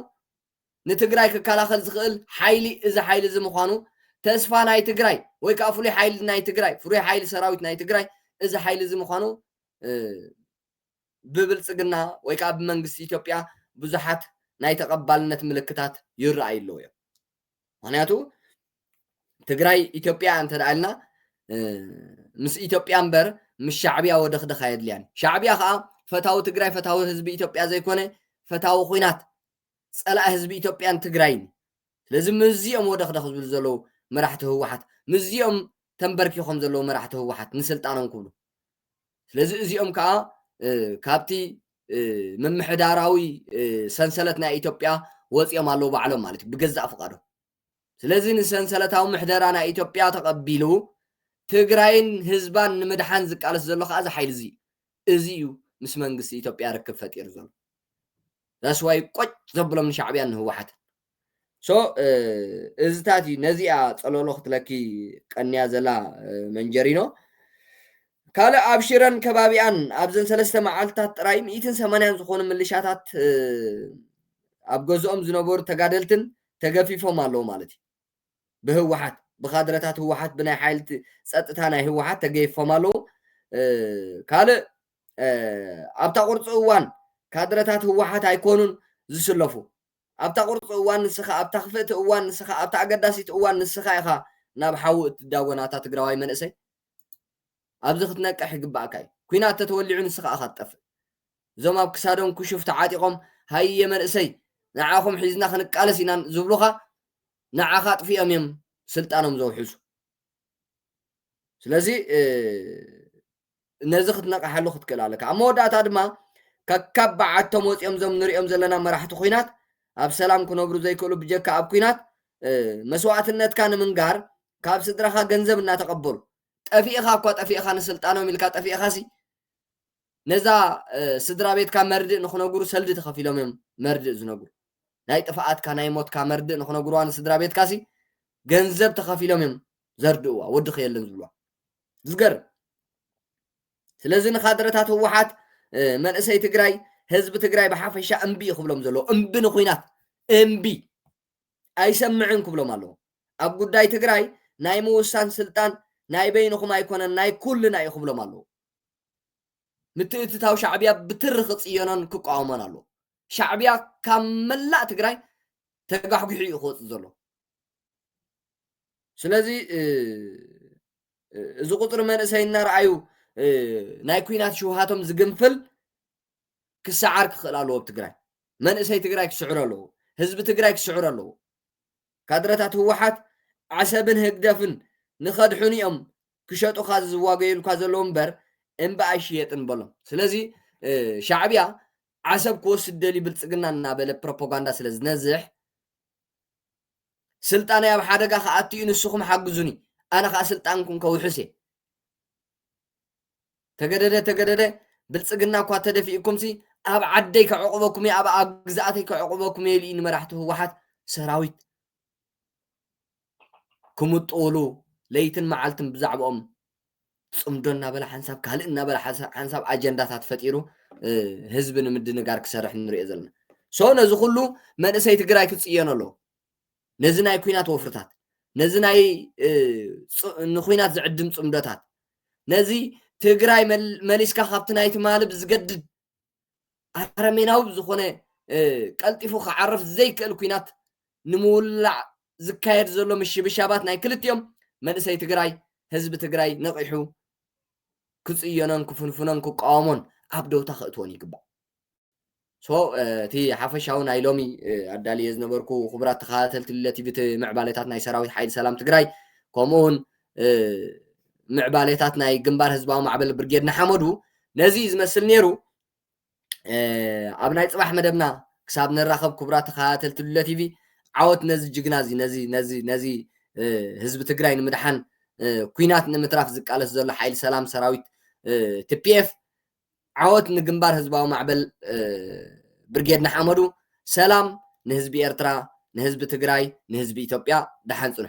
ንትግራይ ክከላኸል ዝኽእል ሓይሊ እዚ ሓይሊ እዚ ምዃኑ ተስፋ ናይ ትግራይ ወይ ከዓ ፍሉይ ሓይሊ ናይ ትግራይ ፍሉይ ሓይሊ ሰራዊት ናይ ትግራይ እዚ ሓይሊ እዚ ምዃኑ ብብልጽግና ወይ ከኣ ብመንግስቲ ኢትዮጵያ ብዙሓት ናይ ተቐባልነት ምልክታት ይረኣዩ ኣለዉ እዮም። ምክንያቱ ትግራይ ኢትዮጵያ እያ እንተደኣ ኢልና ምስ ኢትዮጵያ እምበር ምስ ሻዕብያ ወደኽደኽ ኣየድልያን። ሻዕብያ ከኣ ፈታዊ ትግራይ ፈታዊ ህዝቢ ኢትዮጵያ ዘይኮነ ፈታዊ ኩናት ጸላኢ ህዝቢ ኢትዮጵያን ትግራይን እዩ። ስለዚ ምስዚኦም ወደኽደኽ ዝብሉ ዘለዉ መራሕቲ ህወሓት ምስዚኦም ተንበርኪኾም ዘለዉ መራሕቲ ህወሓት ንስልጣኖም ክብሉ ስለዚ እዚኦም ከኣ ካብቲ ምምሕዳራዊ ሰንሰለት ናይ ኢትዮጵያ ወፂኦም ኣለዉ ባዕሎም ማለት እዩ ብገዛእ ፍቃዶም ስለዚ ንሰንሰለታዊ ምሕደራ ናይ ኢትዮጵያ ተቐቢሉ ትግራይን ህዝባን ንምድሓን ዝቃለስ ዘሎ ከዓ እዚ ሓይሊ እዚ እዚ እዩ ምስ መንግስቲ ኢትዮጵያ ርክብ ፈጢሩ ዘሎ ዳስዋይ ቆጭ ዘብሎም ንሻዕብያን ንህወሓትን so እዝታት እዩ ነዚ እያ ጸሎሎ ክትለኪ ቀንያ ዘላ መንጀሪኖ ካልእ ኣብ ሽረን ከባቢኣን ኣብዘን ሰለስተ መዓልትታት ጥራይ ሚእትን ሰማንያን ዝኾኑ ምልሻታት ኣብ ገዝኦም ዝነበሩ ተጋደልትን ተገፊፎም ኣለዉ ማለት እዩ ብህወሓት ብካድረታት ህወሓት ብናይ ሓይልቲ ፀጥታ ናይ ህወሓት ተገይፎም ኣለዉ ካልእ ኣብታ ቁርፂ እዋን ካድረታት ህወሓት ኣይኮኑን ዝስለፉ ኣብታ ቁርጽ እዋን ንስኻ ኣብታ ክፍእቲ እዋን ንስኻ ኣብታ ኣገዳሲት እዋን ንስኻ ኢኻ ናብ ሓዊ እትዳጎን ኣታ ትግራዋይ መንእሰይ ኣብዚ ክትነቅሕ ይግባኣካ እዩ ኩናት ተተወሊዑ ንስኻ እኻ ትጠፍእ እዞም ኣብ ክሳዶም ኩሹፍ ተዓጢቆም ሃየ መንእሰይ ንዓኹም ሒዝና ክንቃለስ ኢና ዝብሉኻ ንዓኻ ኣጥፊኦም እዮም ስልጣኖም ዘውሕሱ ስለዚ ነዚ ክትነቕሓሉ ክትክእል ኣለካ። ኣብ መወዳእታ ድማ ከካብ በዓቶም ወጺኦም እዞም ንሪኦም ዘለና መራሕቲ ኩናት ኣብ ሰላም ክነብሩ ዘይክእሉ ብጀካ ኣብ ኩናት መስዋእትነትካ ንምንጋር ካብ ስድራኻ ገንዘብ እናተቐበሉ ጠፊእኻ እኳ ጠፊእኻ ንስልጣኖም ኢልካ ጠፊእኻ ሲ ነዛ ስድራ ቤትካ መርድእ ንክነግሩ ሰልዲ ተኸፊሎም እዮም መርድእ ዝነግሩ ናይ ጥፍኣትካ ናይ ሞትካ መርድእ ንክነግሩዋ ንስድራ ቤትካ ሲ ገንዘብ ተኸፊሎም እዮም ዘርድእዋ ወዲ ክየለን ዝብልዋ ዝገርም ስለዚ ንካድረታት ህወሓት መንእሰይ ትግራይ ህዝቢ ትግራይ ብሓፈሻ እምቢ እዩ ክብሎም ዘለዎ እምቢ ንኩናት እምቢ ኣይሰምዕን ክብሎም ኣለዎ ኣብ ጉዳይ ትግራይ ናይ ምውሳን ስልጣን ናይ በይንኹም ኣይኮነን ናይ ኩልና እዩ ክብሎም ኣለዎ ምትእትታው ሻዕብያ ብትሪ ክፅየኖን ክቋወሞን ኣለዎ ሻዕብያ ካብ መላእ ትግራይ ተጋሕጒሑ እዩ ክወፅእ ዘሎ ስለዚ እዚ ቁፅሪ መንእሰይ እናርኣዩ ናይ ኩናት ሽውሃቶም ዝግንፍል ክሰዓር ክኽእል ኣለዎ ኣብ ትግራይ መንእሰይ ትግራይ ክስዕሩ ኣለዎ ህዝቢ ትግራይ ክስዕሩ ኣለዎ ካድረታት ህወሓት ዓሰብን ህግደፍን ንኸድሕኑ እዮም ክሸጡኻ ዝዋገዩልካ ዘለዉ እምበር እምበ ኣይሽየጥን በሎም ስለዚ ሻዕብያ ዓሰብ ክወስድ ደልዩ ብልፅግና እናበለ ፕሮፓጋንዳ ስለ ዝነዝሕ ስልጣነይ ኣብ ሓደጋ ክኣቱ እዩ ንስኹም ሓግዙኒ ኣነ ከዓ ስልጣንኩም ከውሕስ እየ ተገደደ ተገደደ ብልፅግና እኳ ተደፊእኩምሲ ኣብ ዓደይ ከዕቑበኩም እየ ኣብ ኣብ ግዝኣተይ ከዕቑበኩም እየ ኢሉ እዩ ንመራሕቲ ህወሓት ሰራዊት ክምጥውሉ ለይትን መዓልትን ብዛዕባኦም ፅምዶ እናበለ ሓንሳብ ካልእ እናበለ ሓንሳብ ኣጀንዳታት ፈጢሩ ህዝቢ ንምድንጋር ክሰርሕ ንሪኦ ዘለና ሶ ነዚ ኩሉ መንእሰይ ትግራይ ክፅየኖ ኣለዎ ነዚ ናይ ኩናት ወፍርታት ነዚ ናይ ንኩናት ዝዕድም ፅምዶታት ነዚ ትግራይ መሊስካ ካብቲ ናይ ትማሊ ብዝገድድ ኣረሜናዊ ብዝኾነ ቀልጢፉ ክዓርፍ ዘይክእል ኩናት ንምውላዕ ዝካየድ ዘሎ ምሽብሻባት ናይ ክልቲኦም መንእሰይ ትግራይ ህዝቢ ትግራይ ነቒሑ ክፅዮኖን ክፍንፍኖን ክቃወሞን ኣብ ደውታ ክእትዎን ይግባእ ሶ እቲ ሓፈሻዊ ናይ ሎሚ ኣዳልየ ዝነበርኩ ክቡራት ተኸታተልቲ ቲቪ እቲ ምዕባለታት ናይ ሰራዊት ሓይሊ ሰላም ትግራይ ከምኡ እውን ምዕባሌታት ናይ ግንባር ህዝባዊ ማዕበል ብርጌድ ንሓመዱ ነዚ እዩ ዝመስል ነይሩ ኣብ ናይ ፅባሕ መደብና ክሳብ ንራኸብ ክቡራ ተኸታተልቲ ሉለ ቲቪ ዓወት ነዚ ጅግና እዚ ነዚ ነዚ ነዚ ህዝቢ ትግራይ ንምድሓን ኩናት ንምትራፍ ዝቃለስ ዘሎ ሓይሊ ሰላም ሰራዊት ቲፒኤፍ ዓወት ንግንባር ህዝባዊ ማዕበል ብርጌድ ንሓመዱ ሰላም ንህዝቢ ኤርትራ ንህዝቢ ትግራይ ንህዝቢ ኢትዮጵያ ደሓን ፅንሑ